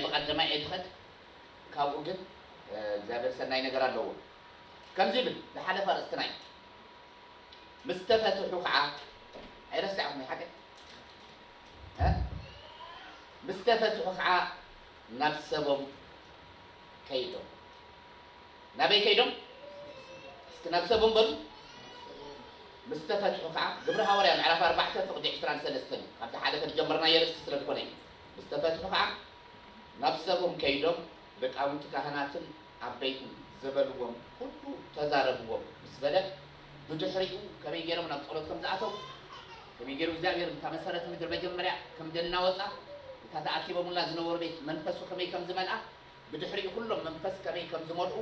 ብቐደማይ ኣይትኸድ ካብኡ ግን እግዚኣብሔር ሠናይ ነገር ኣለዎ ከምዙይ ይብል ዝሓለፈ ኣርእስትና እዩ ምስ ተፈትሑ ከዓ ኣይረሳዕኹም ሓቀይ ምስ ተፈትሑ ኸዓ ናብ ሰቦም ከይዶም። ናበይ ከይዶም? እስኪ ናብ ሰቦም በሉ። ምስ ተፈትሑ ኸዓ ግብሪ ሃዋርያ ምዕራፍ ኣርባዕተ ፍቕዲ ዕስራን ሰለስተን እዩ። ካብዚ ሓለፈ ዝጀመርናዮ ርእስቲ ስለ ዝኾነ እዩ። ምስ ተፈትሑ ኸዓ ናብ ሰቦም ከይዶም ልቃውንቲ ካህናትን ዓበይትን ዝበልዎም ኹሉ ተዛረብዎም ምስ በለ ብድሕሪኡ ከመይ ገይሮም ናብ ጸሎት ከም ዝኣተው፣ ከመይ ገይሩ እግዚኣብሄር ነታ መሰረት ምድሪ መጀመርያ ከም ዘናወጻ፣ ነታ ተኣኪበሙላ ዝነበሩ ቤት መንፈሱ ከመይ ከም ዝመልኣ፣ ብድሕሪኡ ኩሎም መንፈስ ከመይ ከም ዝመልኡ፣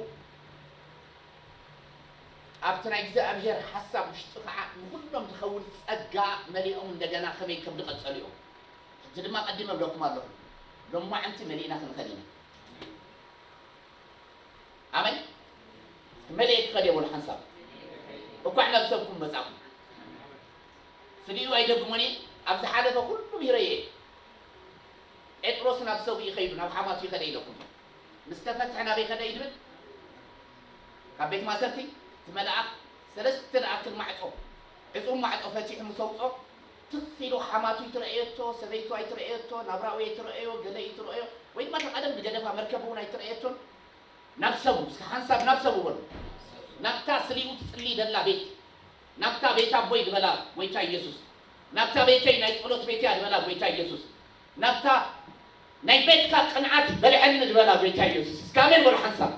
ኣብቲ ናይ እግዚኣብሄር ሓሳብ ውሽጢ ከኣ ንኹሎም ዝኸውን ጸጋ መሊኦም እንደገና ከመይ ከም ዝቐጸሉ እዮም። ሕጂ ድማ ቀዲመ እብለኩም ኣለኹ፣ ሎማዕንቲ መሊእና ክንኸድ ኢና። ኣመን። እስኪ መሊኤ ክኸድ እየ በሉ ሓንሳብ። እኳዕ ናብ ሰብኩም መጻእኩም። ፍሊኡ ኣይደግሞን እየ ኣብ ዝሓለፈ ኩሉ ሚህረዮ እየ ጴጥሮስ ናብ ሰብኡ ከይዱ ናብ ሓማቱ ከደ ኢለኩም እየ ምስ ተፈትሐ ናበይ ከደ እዩ ድብል ካብ ቤት ማሰርቲ እቲ መልኣኽ ሰለስተ ዝኣክል ማዕጾ ዕጹው ማዕጾ ፈቲሑ ምስ ኣውጽኦ ትኽ ኢሉ ሓማቱ ኣይትረኣየቶ ሰበይቱ ኣይትረኣየቶ ናብራኡ ኣይትረኣዮ ገለ ኣይትረኣዮ ወይ ድማ እታ ቀደም ዝገደፋ መርከብ እውን ኣይትረኣየቶን ናብ ሰቡ እስከ ሓንሳብ ናብ ሰቡ በሉ ናብታ ፍሊኡ ትጽልይ ደላ ቤት ናብታ ቤት ኣቦይ ዝበላ ጎይታ ኢየሱስ ናብታ ቤተይ ናይ ጸሎት ቤት እያ ዝበላ ጎይታ ኢየሱስ ናብታ ናይ ቤትካ ቅንዓት በልዐኒ ዝበላ ጎይታ ኢየሱስ እስከ ኣሜን በሉ ሓንሳብ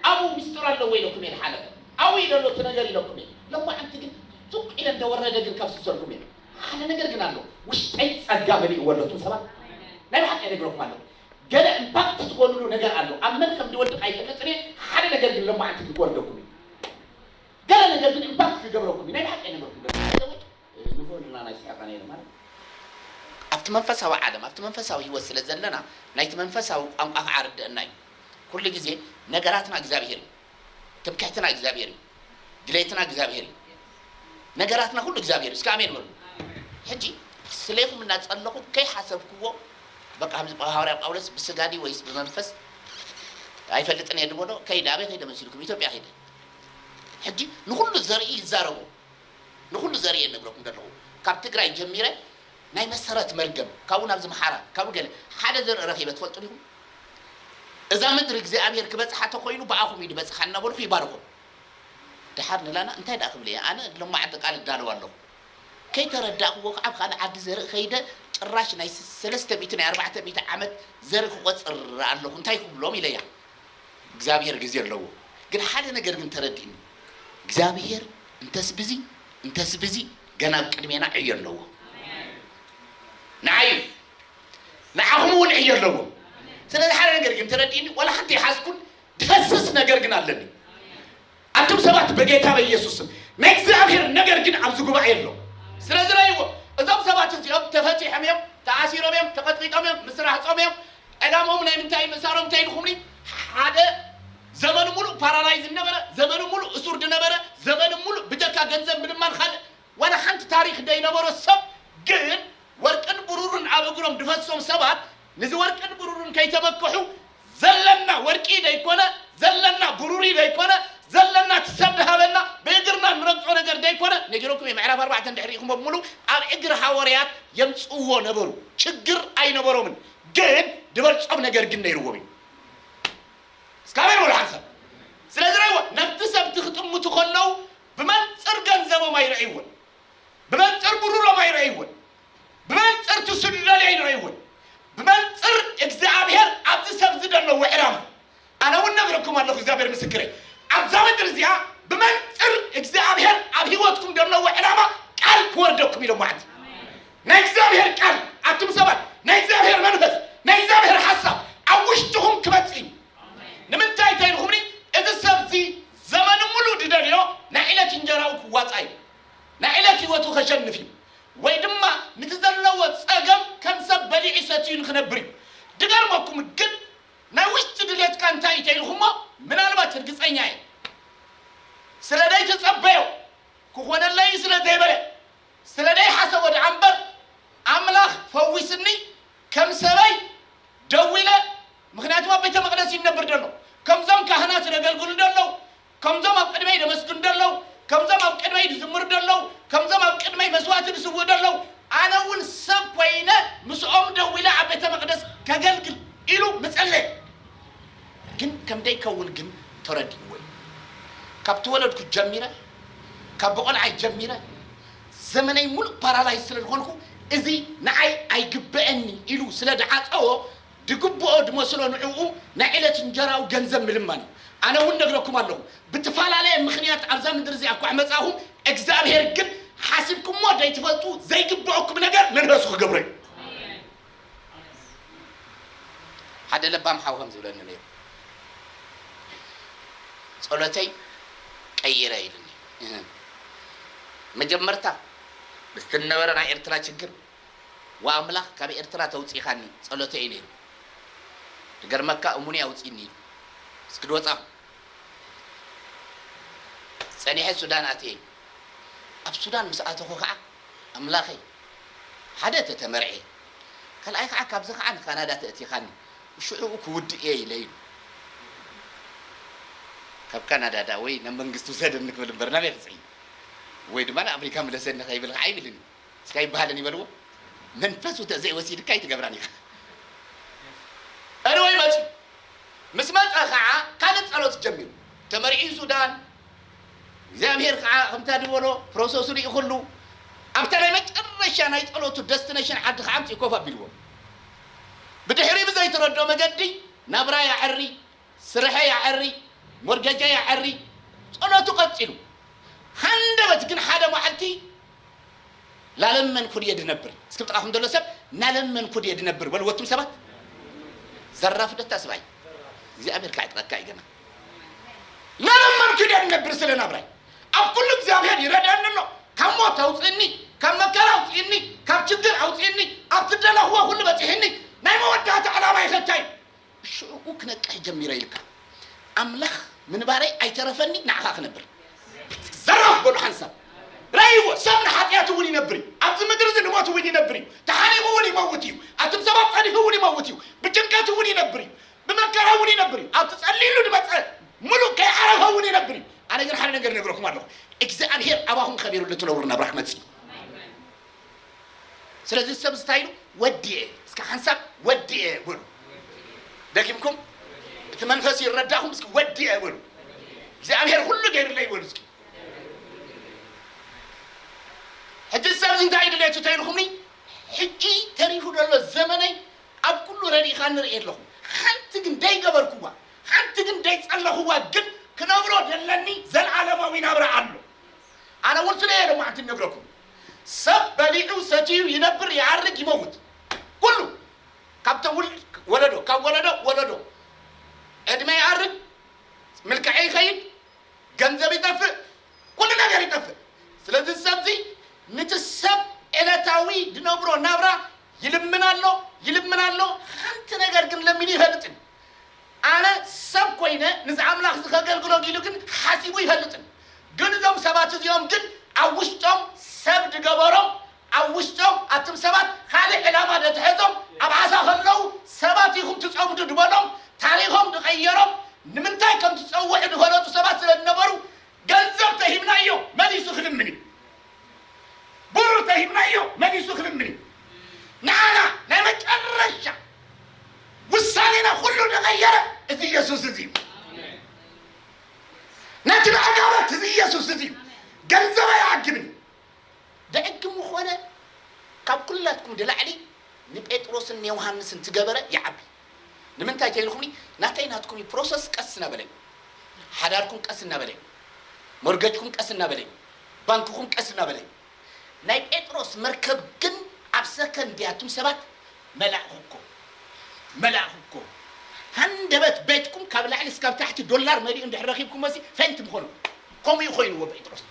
ኣብኡ ምስጢር ኣለዎ ኢለኩም እየ ዝሓለፈ ኣብኡ እዩ ዘሎ እቲ ነገር ኢለኩም እየ ሎማዓንቲ ግን ሱቅ ኢለ እንደወረደ ግን ከፍስሰልኩም እየ ሓደ ነገር ግን ኣሎ ውሽጠይ ጸጋ መሊእዎ ኣሎ እቱም ሰባት ናይ ብሓቂ ይነግረኩም ኣለኹ ገለ እምፓክት ትኾንሉ ነገር ኣሎ ኣብ መን ከም ዝወድቕ ኣይፈልጥን እየ ሓደ ነገር ግን ሎማዓንቲ ግን ክወርደኩም እዩ ገለ ነገር ግን እምባክ ክገብረኩም እዩ ናይ ብሓቂ ኣይነበርኩን ገለ ባይ ዘ ወይ ንግሆ ንና ናይ ስራቃ ነይረ ማለት ኣብቲ መንፈሳዊ ዓለም ኣብቲ መንፈሳዊ ሂወት ስለ ዘለና ናይቲ መንፈሳዊ ቋንቋ ከዓ ርደእና እዩ ኩሉ ግዜ ነገራትና እግዚኣብሄር እዩ ትምክሕትና እግዚኣብሄር እዩ ድሌትና እግዚኣብሄር እዩ ነገራትና ኩሉ እግዚኣብሄር እስኪ ኣሜን በሉ ሕጂ ስሌኹም እናጸለኹ ከይሓሰብክዎ በቃ ከምዚ ሃዋርያ ጳውሎስ ብስጋ ድዩ ወይስ ብመንፈስ ኣይፈልጥን እየ ድበሎ ከይደ ኣበይ ከይደ መሲልኩም ኢትዮጵያ ከይደ ሕጂ ንኹሉ ዘርኢ ይዛረቡ ንኹሉ ዘርኢ እየ ልነግረኩም ደለኹ ካብ ትግራይ ጀሚረ ናይ መሰረት መርገም ካብኡ ናብ ዝምሓራ ካብኡ ገለ ሓደ ዘርኢ ረኺበ ትፈልጡ ዲኹም እዛ ምድሪ እግዚኣብሔር ክበጽሓ ተኾይኑ ብኣኹም እዩ ድበጽሓ እናበልኹ ይባርኾም ደሓር ንላና እንታይ ደኣ ክብል እየ ኣነ ሎማዕንቲ ቃል እዳለዉ ኣለኹ ከይተረዳእክዎ ከዓ ኣብ ካልእ ዓዲ ዘርኢ ከይደ ጭራሽ ናይ ሰለስተ ሚእቲ ናይ ኣርባዕተ ሚእቲ ዓመት ዘርኢ ክቆጽር ኣለኹ እንታይ ክብሎም ኢለያ እግዚኣብሔር ግዜ ኣለዎ ግን ሓደ ነገር ግን ተረድእኒ እግዚኣብሔር እንተስ ብዚ እንተስ ብዚ ገና ኣብ ቅድሜና ዕዮ ኣለዎ ንዓይ ንዓኹም እውን ዕዮ ኣለዎ ስለዚ ሓደ ነገር ግን ተረድእኒ ዋላ ሓንቲ ይሓዝኩን ድፈስስ ነገር ግን ኣለኒ ኣቱም ሰባት በጌታ በኢየሱስ ስም ናይ እግዚኣብሔር ነገር ግን ኣብዚ ጉባኤ ኣሎ ስለዚ ረእይዎ እዞም ሰባት እዚኦም ተፈቲሖም እዮም ተኣሲሮም እዮም ተቀጥቂጦም እዮም ምስ ራህጾም እዮም ዕላምኦም ናይ ምንታይ ምእሳሮም እንታይ ኢልኩምኒ ሓደ ዘመኑ ሙሉእ ፓራላይዝ ነበረ ዘመኑ ሙሉእ እሱር ድነበረ ዘመኑ ሙሉእ ብጀካ ገንዘብ ምልማን ካልእ ዋላ ሓንቲ ታሪክ ደይነበሮ ሰብ ግን ወርቅን ብሩርን ኣብ እግሮም ድፈሶም ሰባት ንዚ ወርቅን ብሩርን ከይተበከሑ ዘለና ወርቂ ደይኮነ ዘለና ብሩሪ ደይኮነ ዘለና እቲ ሰብ ድሃበና ብእግርና እንረግጾ ነገር ደይኮነ ነጊረኩም እየ ምዕራፍ ኣርባዕተ እንድሕር ሪኢኽሞ ብሙሉ ኣብ እግሪ ሃወርያት የምጽእዎ ነበሩ ችግር ኣይነበሮምን ግን ድበልጾም ነገር ግን ነይርዎም እዩ እስካበይ በሉ ሓደ ሰብ ስለዚ ረይዎ ነብቲ ሰብቲ ክጥምቱ ከለው ብመንጽር ገንዘቦም ኣይረእይዎን ብመንጽር ብሩሮም ኣይረእይዎን ብመንጽር ትሱ ድደልዮ ይንርይውን ብመንጽር እግዚኣብሔር ኣብዚ ሰብ ዝደለዎ ዕላማ ኣነውን ነግርኩም ኣለኹ እግዚኣብሔር ምስክረይ ኣብዛ ምድር እዚኣ ብመንጽር እግዚኣብሔር ኣብ ህይወትኩም ደለዎ ዕላማ ቃል ክወርደኩም ኢሎም ማዕት ናይ እግዚኣብሔር ቃል ኣቱም ሰባት ናይ እግዚኣብሔር መንፈስ ናይ እግዚኣብሔር ሓሳብ ኣብ ውሽጥኹም ክመጽእ እዩ ንምንታይ ተይልኹምኒ እዚ ሰብዚ ዘመኑ ሙሉ ድደልዮ ናይ ዕለት እንጀራኡ ክዋፃ እዩ ናይ ዕለት ህይወቱ ከሸንፍ እዩ ወይ ድማ ንቲ ዘለዎ ጸገም ከም ሰብ በሊዑ ሰትዩ ንክነብር እዩ ድገርመኩም ግን ናይ ውሽጢ ድሌትካ እንታይ እዩ ተኢልኩሞ ምናልባት ርግጸኛ እየ ስለ ደይተጸበዮ ክኾነለይ እዩ ስለ ዘይበለ ስለ ደይሓሰቦ ድኣ እምበር ኣምላኽ ፈዊስኒ ከም ሰበይ ደዊለ ምክንያቱም ኣብ ቤተ መቅደስ እዩ ንነብር ደሎ ከምዞም ካህናት ደገልግሉ ደለዉ ከምዞም ኣብ ቅድመይ ደመስግኑ ደለዉ፣ ከምዞም ኣብ ቅድመይ ድዝምሩ ደለዉ፣ ከምዞም ኣብ ቅድመይ መስዋእቲ ድስውኡ ደለዉ፣ ኣነ እውን ሰብ ኮይነ ምስኦም ደው ኢለ ኣብ ቤተ መቅደስ ከገልግል ኢሉ ምጸለየ። ግን ከም ደይከውን ግን ተረዲእዎ እዩ። ካብ ተወለድኩ ጀሚረ፣ ካብ ብቆልዓይ ጀሚረ፣ ዘመነይ ምሉእ ፓራላይዝ ስለ ድኮንኩ እዚ ንዓይ ኣይግበእኒ ኢሉ ስለ ድዓጸዎ፣ ድግብኦ ድመስሎ ንዕኡ ናይ ዕለት እንጀራኡ ገንዘብ ምልማን እዩ ኣነ እውን ነግረኩም ኣለኹ ብትፋላለየ ምኽንያት ኣብዛ ምድሪ እዚኣ እኳ መጻእኹም እግዚኣብሔር ግን ሓሲብኩሞ ደይትፈልጡ ዘይግብኦኩም ነገር ንነሱ ክገብሮ እዩ ሓደ ለባም ሓው ከም ዝብለኒ ነይሩ ጸሎተይ ቀይረ ኢሉኒ መጀመርታ ምስቲ ነበረ ናይ ኤርትራ ችግር ዋእ ኣምላኽ ካብ ኤርትራ ተውጺኻኒ ጸሎተይ እዩ ነይሩ ድገርመካ እሙነይ ኣውጺኒ ኢሉ እስኪ ድወጻኹ ጸኒሐ ሱዳን ኣትየ እዩ ኣብ ሱዳን ምስ ኣተኹ ከኣ ኣምላኸይ ሓደ ተተመርዕየ ካልኣይ ከኣ ካብዚ ከኣ ንካናዳ ተእቲኻኒ ሽዑኡ ክውድእ እየ ኢለ ኢሉ ካብ ካናዳ ደኣ ወይ ናብ መንግስቲ ውሰደኒ ክብል እምበር ናበይ ክጽዒ ወይ ድማ ንኣፍሪካ ምለሰኒ ከይብል ከኣ ኣይብልን እዩ። እስከ ኣይበሃልን እዩ በልዎ መንፈሱ ተዘይ ወሲድካ ኣይትገብራን ኢኻ Anyway መፅዩ ምስ መፀ ከዓ ካልእ ፀሎት ጀሚሩ ተመርዕዩ ሱዳን እግዚኣብሔር ከዓ ከምታ ድበሎ ፕሮሰሱ ልኢኹሉ ኣብታ ናይ መጨረሻ ናይ ፀሎቱ ደስቲነሽን ዓዲ ከዓ ኣምፅኡ ኮፍ ኣቢልዎ ብድሕሪ ብዘይተረድኦ መገዲ ናብራ የዐሪ ስርሐይ ኣዐሪ ሞርገጀይ ኣዐሪ ጸሎቱ ቀጺሉ ሃንደበት ግን ሓደ ማዓልቲ ላለመንኩ ድየ ድነብር እስኪ ብጥቃኩም ደሎ ሰብ ናለመንኩ ድየ ድነብር በልዎ ኣቱም ሰባት ዘራፍ ዶ ታስባይ እግዚኣብሔር ካዕጥቀካ እዩ ገና ናለመንኩ ድየ ድነብር ስለ ናብራይ ኣብ ኩሉ እግዚኣብሔር ይረድኣኒ ኣሎ ካብ ሞት ኣውጽእኒ ካብ መከራ ኣውጽእኒ ካብ ችግር ኣውጽእኒ ኣብ ትደለክዎ ኩሉ በጺሕኒ ናይ መወዳእታ ዕላማይ ከ እንታይ እዩ ሽዑኡ ክነቅሕ ጀሚረ ኢልካ ኣምላኽ ምንባረይ ኣይተረፈኒ ንዓኻ ክነብር። ዘራፍ በሉ ሓንሳብ ረእይዎ ሰብ ንሓጥያት እውን ይነብር እዩ ኣብዚ ምድሪ እዚ ንሞት እውን ይነብር እዩ ተሓኒቁ እውን ይመውት እዩ ኣቱም ሰባት ጸኒሑ እውን ይመውት እዩ ብጭንቀት እውን ይነብር እዩ ብመከራ እውን ይነብር እዩ ኣብቲ ጸሊሉ ድመጸ ምሉእ ከይዓረፈ እውን ይነብር እዩ ኣነ ግን ሓደ ነገር ነግረኩም ኣለኹ እግዚኣብሔር ኣባኹም ከቢሩ ልትነብሩ ናብራ ክመጽእ እዩ ስለዚ እዚ ሰብ እዚ እንታይ ኢሉ ወዲኤ እስከ ሓንሳብ ወዲኤ በሉ ደጊምኩም እቲ መንፈስ ይረዳእኹም እስኪ ወዲኤ በሉ እግዚኣብሔር ኩሉ ገይርለይ በሉ እስኪ ሕጂ እዚ ሰብ እዚ እንታይ ድሌቱ ተይልኹምኒ ሕጂ ተሪፉ ዘሎ ዘመነይ ኣብ ኩሉ ረዲእኻ ንርኢ ኣለኹ ሓንቲ ግን ደይገበርኩዋ ሓንቲ ግን ደይጸለኹዋ ግን ክነብሮ ደለኒ ዘለዓለማዊ ናብራ ኣሎ ኣነ እውን ስለ እየ ሎማዕንቲ ነግረኩም ሰብ በሊዑ ሰቲዩ ይነብር ይሃርግ ይመውት ኩሉ ካብ ተውልድ ወለዶ ካብ ወለዶ ወለዶ ዕድመ ይኣርግ ምልከዐ ይኸይድ ገንዘብ ይጠፍእ ኩሉ ነገር ይጠፍእ ስለዚ ሰብዚ ንቲ ሰብ ዕለታዊ ድነብሮ ናብራ ይልምን ኣሎ ይልምን ኣሎ ሓንቲ ነገር ግን ለሚኑ ይፈልጥን ኣነ ሰብ ኮይነ ምስ ኣምላኽ ዝከገልግሎ ጊሉ ግን ሓሲቡ ይፈልጥን ግን እዞም ሰባት እዚኦም ግን ኣብ ውሽጦም ሰብ ድገበሮም ኣብ ውሽጦም ኣትም ሰባት ካልእ ዕላማ ደትሐዞም ኣብ ዓሳ ከለዉ ሰባት ኢኩም ትጸምዱ ድበሎም ታሪኮም ድቀየሮም ንምንታይ ከምትጸውዑ ድፈለጡ ሰባት ስለድነበሩ ገንዘብ ተሂብናዮ መሊሱ ክልምን እዩ ብሩር ተሂብናዮ መሊሱ ክልምን እዩ ንዓና ናይ መጨረሻ ውሳኔና ኩሉ ዝቐየረ እዚ ኢየሱስ እዚ እዩ ነቲ ብዕጋበት እዚ ኢየሱስ እዚ እዩ ገንዘብ ኣይዓግብን እዩ ብዕግሙ ኾነ ካብ ኩላትኩም ድላዕሊ ንጴጥሮስን ንዮሃንስን ትገበረ ይዓቢ ንምንታይ ተይልኩምኒ ናተይ ናትኩም እዩ ፕሮሰስ ቀስ ናበለ እዩ ሓዳርኩም ቀስ ናበለ እዩ ሞርገጅኩም ቀስ ናበለ እዩ ባንክኩም ቀስ ናበለ እዩ ናይ ጴጥሮስ መርከብ ግን ኣብ ሰከንድ እያ ኣቱም ሰባት መላእኹ እኮ መላእኹ እኮ ሃንደበት ቤትኩም ካብ ላዕሊ እስካብ ታሕቲ ዶላር መሊኡ እንድሕር ረኺብኩሞሲ ፌንት ምኾኑ ከምኡ እዩ ኮይኑዎ ጴጥሮስ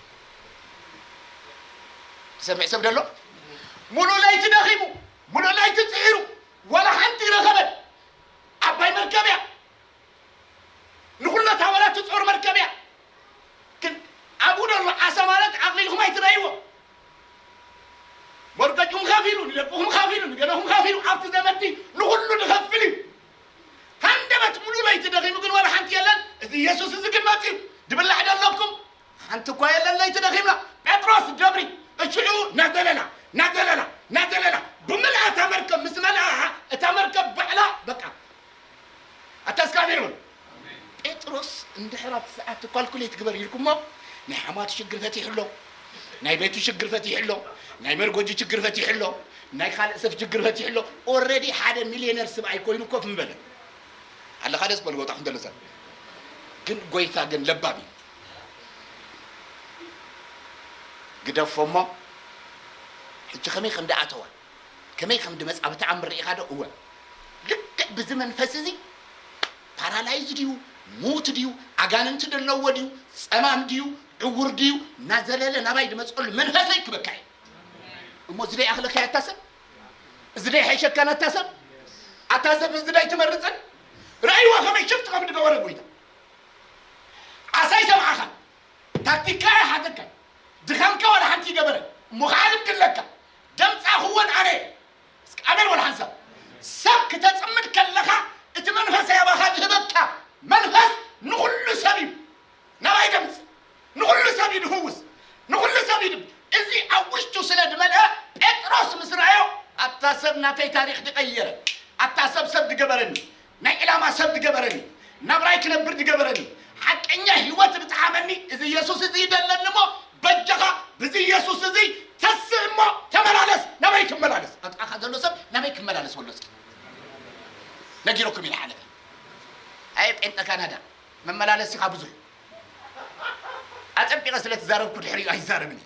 ዝሰምዕ ሰብ ደሎ ሙሉእ ለይቲ ደኺሙ ሙሉእ ለይቲ ፅዒሩ ዋላ ሓንቲ ረኸበን ዓባይ መርከብ እያ ንኹለታ ዋላ ትጾር መርከብ እያ ግን ኣብኡ ደሎ ዓሳ ማለት ዓቕሊ ኢልኩም ኣይትረእይዎ ሞርገጅኩም ከፊሉ ንደቅኹም ከፊሉ ንገለኹም ከፊሉ ኣብቲ ዘመቲ ንኹሉ ንኸፍል እዩ ሃንደበት ሙሉ ለይቲ ደኺሙ ግን ዋላ ሓንቲ የለን እዚ ኢየሱስ እዚ ግን መጺኡ ድብላዕ ደለኩም ሓንቲ እኳ የለን ለይቲ ደኺምና ጴጥሮስ ደብሪ እሽዑ ናዘለላ ናዘለላ ናዘለላ ብምልኣ እታ መርከብ ምስ መልኣ እታ መርከብ ባዕላ በቃ ኣታ እስካሜሮን ጴጥሮስ እንድሕር ኣብቲ ሰዓት ኳልኩሌት ግበር ኢልኩሞ ናይ ሓማቱ ሽግር ፈቲሑ ኣሎ ናይ ቤቱ ሽግር ፈቲሑ ኣሎ ናይ መርጎጂ ችግር ፈቲሑ ኣሎ ናይ ካልእ ሰብ ችግር ፈቲሑ ኣሎ ኦልሬዲ ሓደ ሚልዮነር ስብኣይ ኮይኑ ኮፍ ምበለ ኣለካ ደስ በልጎታ ክንደለሰብ ግን ጎይታ ግን ለባም እዩ ግደፎ እሞ ሕጂ ከመይ ከም ድኣተዋ ከመይ ከም ድመጽኣ ብተኣምር ርኢኻ ዶ እወ ልክዕ ብዚ መንፈስ እዚ ፓራላይዝ ድዩ ምዉት ድዩ ኣጋንንቲ ደለዎ ድዩ ጸማም ድዩ ዕዉር ድዩ ናዘለለ ናባይ ድመጽኦሉ መንፈሰይ ክበካ እዩ እሞ እዚ ደይኣኽለካያ ኣታ ሰብ እዚ ደይሓይሸካን ኣታ ሰብ ኣታ ሰብ እዚ ደይትመርጽን ርእይዎ ከመይ ሽፍት ከም ድገበረ ጎይታ ዓሳ ኣይሰምዓኻን ታክቲካ ኣይሓተካን ድኻምካ ዋላ ሓንቲ ይገበረ እሞ ኻዓ ልምድለካ ደምፃ ኹወን ኣነ እየ እስኪ ኣሜን በሉ ሓንሳብ ሰብ ክተፅምድ ከለኻ እቲ መንፈሰይ ኣባኻ ዝህበካ መንፈስ ንኹሉ ሰብ እዩ ናባይ ደምፅ ንኹሉ ሰብ እዩ ድፍውስ ንኹሉ ሰብ እዩ ድብ እዚ ኣብ ውሽጡ ስለ ድመልአ ጴጥሮስ ምስ ረኣዮ ኣታ ሰብ ናተይ ታሪኽ ድቀየረ ኣታ ሰብ ሰብ ድገበረኒ ናይ ዕላማ ሰብ ድገበረኒ ናብራይ ክነብር ድገበረኒ ሓቀኛ ሂወት ድጥዓመኒ እዚ የሱስ እዚ ደለኒ እሞ በጃኻ ብዚ የሱስ እዚ ተስእ እሞ ተመላለስ ናበይ ክመላለስ ኣብ ጥቃኻ ዘሎ ሰብ ናበይ ክመላለስ በሎ እስኪ ነጊሩኩም ኢና ሓለፈ ኣየ ጴንጠ ካናዳ መመላለሲኻ ብዙሕ ኣጸቢቐ ስለ ትዛረብኩ ድሕሪኡ ኣይዛረብን እየ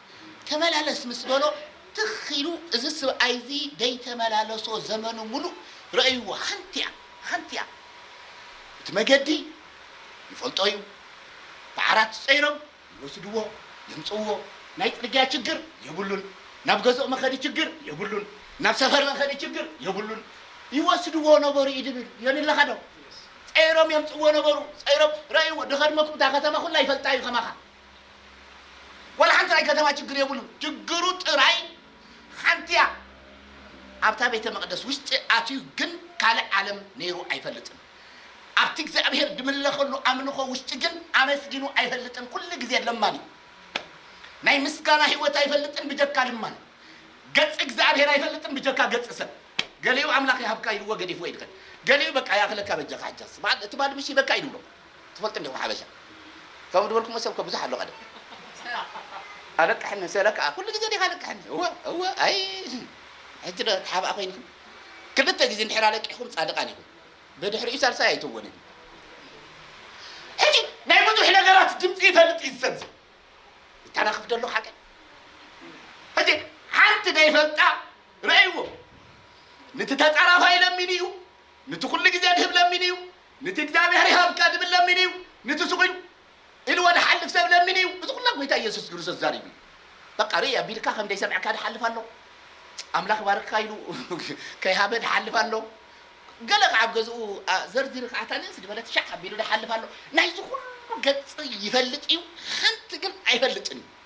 ተመላለስ ምስ በሎ ትኽ ኢሉ እዚ ስብኣይ'ዚ ደይተመላለሶ ዘመኑ ምሉእ ረእይዎ ሓንቲ'ያ ሓንቲ'ያ እቲ መገዲ ይፈልጦ'ዩ ብዓራት ጸይሮም ይወስድዎ የምጽእዎ ናይ ጽርግያ ችግር የብሉን ናብ ገዝኦ መኸዲ ችግር የብሉን ናብ ሰፈር መኸዲ ችግር የብሉን ይወስድዎ ነበሩ ኢድብል ዮኒለኻ ዶ ጸይሮም የምጽእዎ ነበሩ ጸይሮም ረእይዎ ድኸድመኩም እታ ከተማ ኩላ ይፈልጣ'ዩ ከማኻ ዋላ ሓንቲ ናይ ከተማ ችግር የብሉን ችግሩ ጥራይ ሓንቲ እያ ኣብታ ቤተ መቅደስ ውሽጢ ኣትዩ ግን ካልእ ዓለም ነይሩ ኣይፈልጥን ኣብቲ እግዚኣብሔር ድምለኸሉ ኣምልኾ ውሽጢ ግን ኣመስጊኑ ኣይፈልጥን ኩሉ ግዜ ለማኒ ናይ ምስጋና ህይወት ኣይፈልጥን ብጀካ ልማን ገጽ እግዚኣብሔር ኣይፈልጥን ብጀካ ገጽ ሰብ ገሊኡ ኣምላኽ ይሃብካ ኢልዎ ገዲፍዎ ይድኸን ገሊኡ በቃ ያኽለካ በጃኻ ሕጃስ በዓል እቲ ባድምሽ ይበካ ኢልብሎ ትፈልጡ እንዲኹም ሓበሻ ከምኡ ድበልኩሞ ሰብ እኮ ብዙሕ ኣሎ ቀደም ኣለቅሕኒ ሰለ ከኣ ኩሉ ግዜ ዲኻ ኣለቅሕኒ እወ እወ ኣይ ሕጂ ዶ ተሓባእ ኮይንኩም ክልተ ግዜ እንድሕር ኣለቂሕኩም ጻድቃን ኢኹም ብድሕሪኡ ሳልሳይ ኣይትወንን ሕጂ ናይ ብዙሕ ነገራት ድምጺ ይፈልጥ እዩ ሰብ እዚ ይታናኽፍ ደሎ ሓቀይ ሕጂ ሓንቲ ዘይፈልጣ ረእይዎ ንቲ ተጻራፋይ ለሚኑ እዩ ንቲ ኩሉ ግዜ ድህብ ለሚኑ እዩ ንቲ እግዚኣብሔር ይሃብ ቀድም ለሚን እዩ ንቲ ስቁኝ ኢሉ ወድሓልፍ ሰብ ለሚን እዩ እዚ ኩላ ጎይታ ኢየሱስ ግርሶስ ዛሪቡ እዩ በቃ ርእይ ኣቢልካ ከም ደይ ሰምዕካ ድሓልፍ ኣሎ ኣምላክ ይባርክካ ኢሉ ከይ ሃበ ድሓልፍ ኣሎ ገለ ከዓ ኣብ ገዝኡ ዘርዚሪ ከዓ እታ ንእስ ድበለት ሻዕ ኣቢሉ ድሓልፍ ኣሎ ናይዚ ኩሉ ገጽ ይፈልጥ እዩ ሓንቲ ግን ኣይፈልጥን እዩ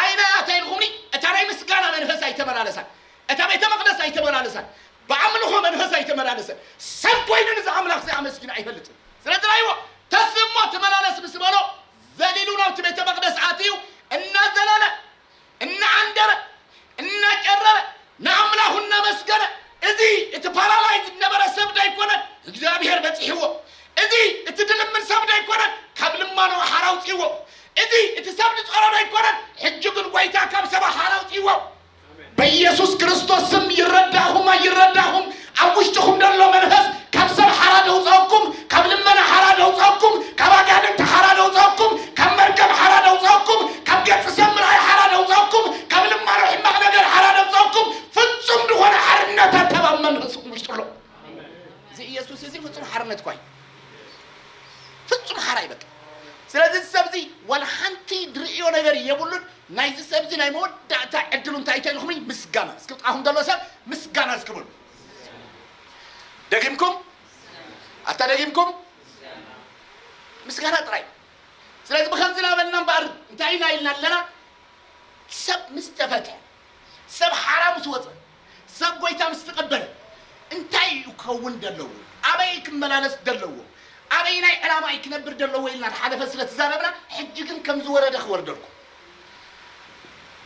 ኣይናይ ኣታ ኢልኩምኒ እታ ናይ ምስጋና መንፈስ ኣይተመላለሳን እታ ቤተ መቅደስ ኣይተመላለሳን ብኣምልኾ መንፈስ ኣይተመላለሰን ሰብ ኮይኑ ንዚ ኣምላኽ እዚ ኣመስጊኑ ኣይፈልጥን ስለዚ ናይዎ ተስ እሞ ትመላለስ ምስ በሎ ዘሊሉ ናብቲ ቤተ መቅደስ ኣትዩ እናዘለለ እናኣንደረ እናጨረረ ንኣምላኹ እናመስገነ እዚ እቲ ፓራላይዝ ዝነበረ ሰብ ዶ ኣይኮነን እግዚኣብሔር በፂሕዎ እዚ እቲ ድልምን ሰብ ዶ ኣይኮነን ካብ ልማኖ ሓራ ኣውፅዎ እቲ እቲ ሰብ ዝጸረዶ ኣይኮነን ሕጂ ግን ጎይታ ካብ ሰባ ሓር ኣውጺዎ። በየሱስ ክርስቶስ ስም ይረዳእኹም ኣይረዳእኹም ኣብ ውሽጥኹም ደሎ መንፈስ ካብ ሰብ ሓራ ደውጸኩም ካብ ልመና ሓራ ደውጸኩም ካብ ኣጋንንቲ ሓራ ደውጸኩም ካብ መርገም ሓራ ደውጸኩም ካብ ገጽ ሰብ ምርኣይ ሓራ ደውጸኩም ካብ ልማኖ ሕማቕ ነገር ሓራ ደውጸኩም ፍጹም ዝኾነ ሓርነት ኣካብ ኣብ መንፈስኩም ውሽጥሎ እዚ ኢየሱስ እዚ ፍጹም ሓርነት ኳይ ፍጹም ሓራይ በቃ ስለዚ እዚ ሰብ እዚ ዋላ ሓንቲ ድርእዮ ነገር የብሉን ናይዚ ሰብ እዚ ናይ መወዳእታ ዕድሉ እንታይ እቶ ኢልኩምኒ ምስጋና እስኪ ብጥቃኹም ዘሎ ሰብ ምስጋና እስኪ በሉ ደጊምኩም ኣታ ደጊምኩም ምስጋና ጥራይ ስለዚ ብከምዚ ናበልና እምበኣር እንታይ ኢና ኢልና ኣለና ሰብ ምስ ተፈትሐ ሰብ ሓራ ምስ ወፀ ሰብ ጐይታ ምስ ተቐበለ እንታይ እዩ ክኸውን ደለዎ፣ ኣበይ እዩ ክመላለስ ደለዎ፣ ኣበይናይ ዕላማ እዩ ክነብር ደለዎ ኢልና ዝሓለፈ ስለ ትዛረብና ሕጂ ግን ከም ዝወረደ ክወርደልኩም።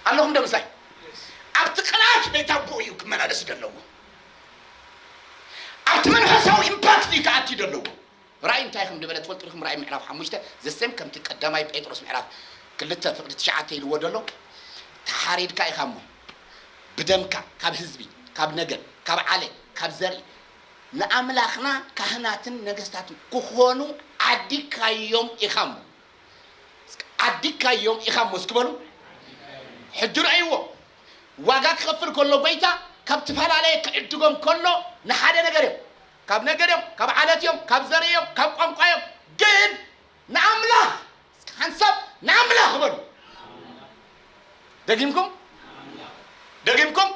ኣለኹምዶ ምሳይ? ኣብቲ ቅልኣት ቤት ኣቦኡ እዩ ክመላለስ ደለዎ። ኣብቲ መንፈሳዊ ኢምፓክት እዩ ክኣቲ ደለዎ። ራእይ እንታይ ከም ድበለ ትፈልጡ ዲኩም ራእይ ምዕራፍ ሓሙሽተ the same ከምቲ ቀዳማይ ጴጥሮስ ምዕራፍ ክልተ ፍቅዲ ትሽዓተ ኢልዎ ደሎ ተሓሪድካ ኢካ እሞ ብደምካ ካብ ህዝቢ ካብ ነገድ ካብ ዓሌ ካብ ዘርኢ ንኣምላክና ካህናትን ነገስታትን ክኮኑ ዓዲካዮም ኢካ እሞ እስከ ዓዲካዮም ኢካ እሞ እስኪ በሉ ሕጂ ረእይዎ ዋጋ ክከፍል ከሎ ጎይታ ካብ ትፈላለየ ክዕድጎም ከሎ ንሓደ ነገር እዮም ካብ ነገድ እዮም፣ ካብ ዓለት እዮም፣ ካብ ዘርኢ እዮም፣ ካብ ቋንቋ እዮም፣ ግን ንኣምላኽ፣ እስኪ ሓንሳብ ንኣምላኽ በሉ። ደጊምኩም፣ ደጊምኩም፣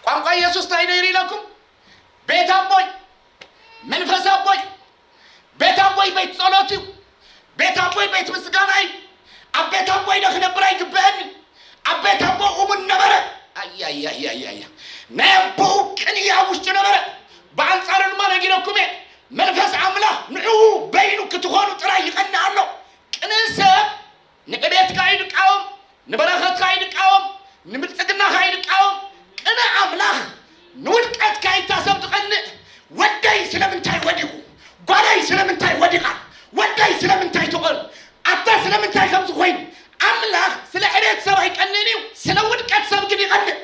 ቋንቋ ኢየሱስ እንታይ ነይሩ ኢለኩም? ቤት ኣቦይ፣ መንፈስ ኣቦይ፣ ቤት ኣቦይ ቤት ጸሎት እዩ። ቤት ኣቦይ ቤት ምስጋና እዩ። ኣብ ቤት ኣቦይ ዶ ክነብር ኣይግበአንን? ኣብ ቤት ኣቦ እሙን ነበረ። ኣያያያያያ ናይ ኣቦኡ ቅንኢ ኣብ ውሽጡ ነበረ። ብኣንጻሩ ድማ ነጊረኩም እየ፣ መንፈስ ኣምላኽ ንዕኡ በይኑ ክትኾኑ ጥራይ ይቐንእ ኣሎ። ቅንእ ሰብ ንዕቤትካ እዩ ንቃወም ንበረኸትካ እዩ ንቃወም ንብልጽግናኻ እዩ ንቃወም ቅነ ኣምላኽ ንውድቀትካ ኢታ ሰብ ዝቀንእ ወደይ ስለምንታይ ወዲቁ ጓለይ ስለምንታይ ወዲቃ ወደይ ስለምንታይ ተቆል ኣታ ስለምንታይ ከምዚ ኮይኑ ኣምላኽ ስለ ዕቤት ሰብ ኣይቀንእን እዩ ስለ ውድቀት ሰብ ግን ይቀንእ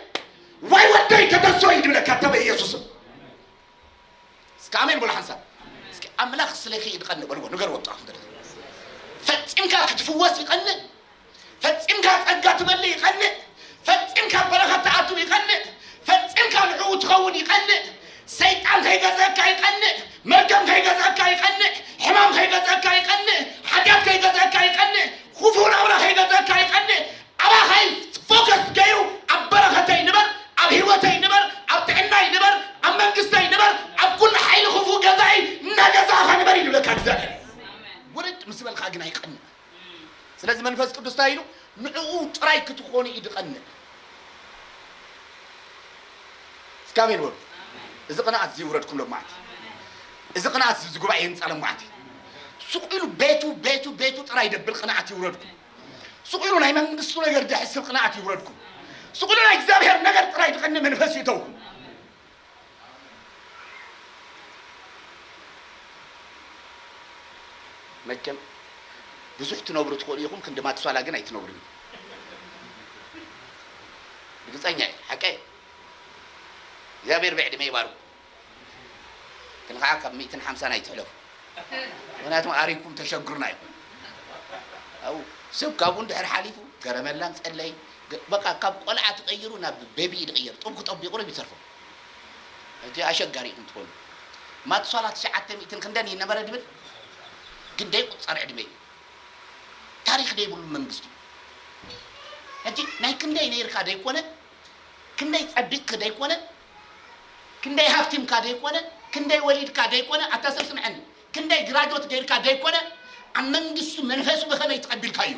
ዋይ ወደይ ተደሶ እዩ ድብለካ እተ በኢየሱስም እስከ ኣሜን በሉ ሓንሳብ እስከ ኣምላኽ ስለኪ ይድቀንእ በልዎ ንገርዎ ጥዑም ደርፊ ፈጺምካ ክትፍወስ ይቀንእ ፈጺምካ ጸጋ ትመልእ ይቀንእ ፈጺምካ በረኸት ትኣትው ይቀንእ ፈጺምካ ንዕኡ ትኸውን ይቀንእ ሰይጣን ከይገዝአካ ይቀንእ መርገም ከይገዝአካ ይቀንእ ሕማም ከይገዝአካ ይቀንእ ሓጢኣት ከይገዝአካ ይቀንእ ክፉእ ናብራ ከይገዝአካ ይቀንእ ኣባኻ እዩ ፎከስ ገይሩ ኣብ በረኸተይ ንበር ኣብ ሂወተይ ንበር ኣብ ጥዕናይ ንበር ኣብ መንግስተይ ንበር ኣብ ኩሉ ሓይሊ ክፉእ ገዛኢ እናገዛእኻ ንበር እዩ ዝብለካ እግዚኣብሔር ውርድ ምስ በልካ ግን ኣይቀንዕ ስለዚ መንፈስ ቅዱስ እንታይ ኢሉ ንዕኡ ጥራይ ክትኾኑ እዩ ዝቀንዕ እስካ ኣሜን በሉ እዚ ቅንኣት እዚ ይውረድኩም ሎማዓንቲ እዚ ቅንኣት እዚ ጉባኤ ይንጻ ሎማዓንቲ ሱቅ ኢሉ ቤቱ ቤቱ ቤቱ ጥራይ ደብል ቅንኣት ይውረድኩም ስቑሉ ናይ መንግስቱ ነገር ደሕስብ ቅንኣት ይውረድኩም። ስቑሉ ናይ እግዚኣብሔር ነገር ጥራይ ድቐኒ መንፈስ ይእተውኩም። መቸም ብዙሕ ትነብሩ ትኽእሉ ኢኹም፣ ክንዲ ማትሷላ ግን ኣይትነብሩን ኢኹም። ርግጸኛ እየ፣ ሓቀይ እግዚኣብሔር ብዕድመ ይባርኩም። ግን ኸዓ ካብ ሚእትን ሓምሳን ኣይትሕለፉ ምኽንያቱም ኣሪግኩም ተሸግሩና ኢኹም ኣው ሰብ ካብኡ ድሕር ሓሊፉ ገረመላን ጸለይ በቃ ካብ ቆልዓ ትቐይሩ ናብ ቤቢ እዩ ዝቕየር ጡብ ክጠቢቑ ርብ ይተርፎ ሕጂ ኣሸጋሪ ኢኹም ትኾኑ ማትሷላ ትሽዓተ ሚእትን ክንደን እዩ ነበረ ድብል ግን ደይቁጸር ዕድመ እዩ ታሪኽ ደይብሉ መንግስቲ እዩ ሕጂ ናይ ክንደይ ነይርካ ደይኮነ ክንደይ ጸቢቕኪ ደይኮነ ክንደይ ሃፍቲምካ ደይኮነ ክንደይ ወሊድካ ደይኮነ ኣታ ሰብ ስምዐኒ ክንደይ ግራጆት ገይርካ ደይኮነ ኣብ መንግስቱ መንፈሱ ብከመይ ተቀቢልካዮ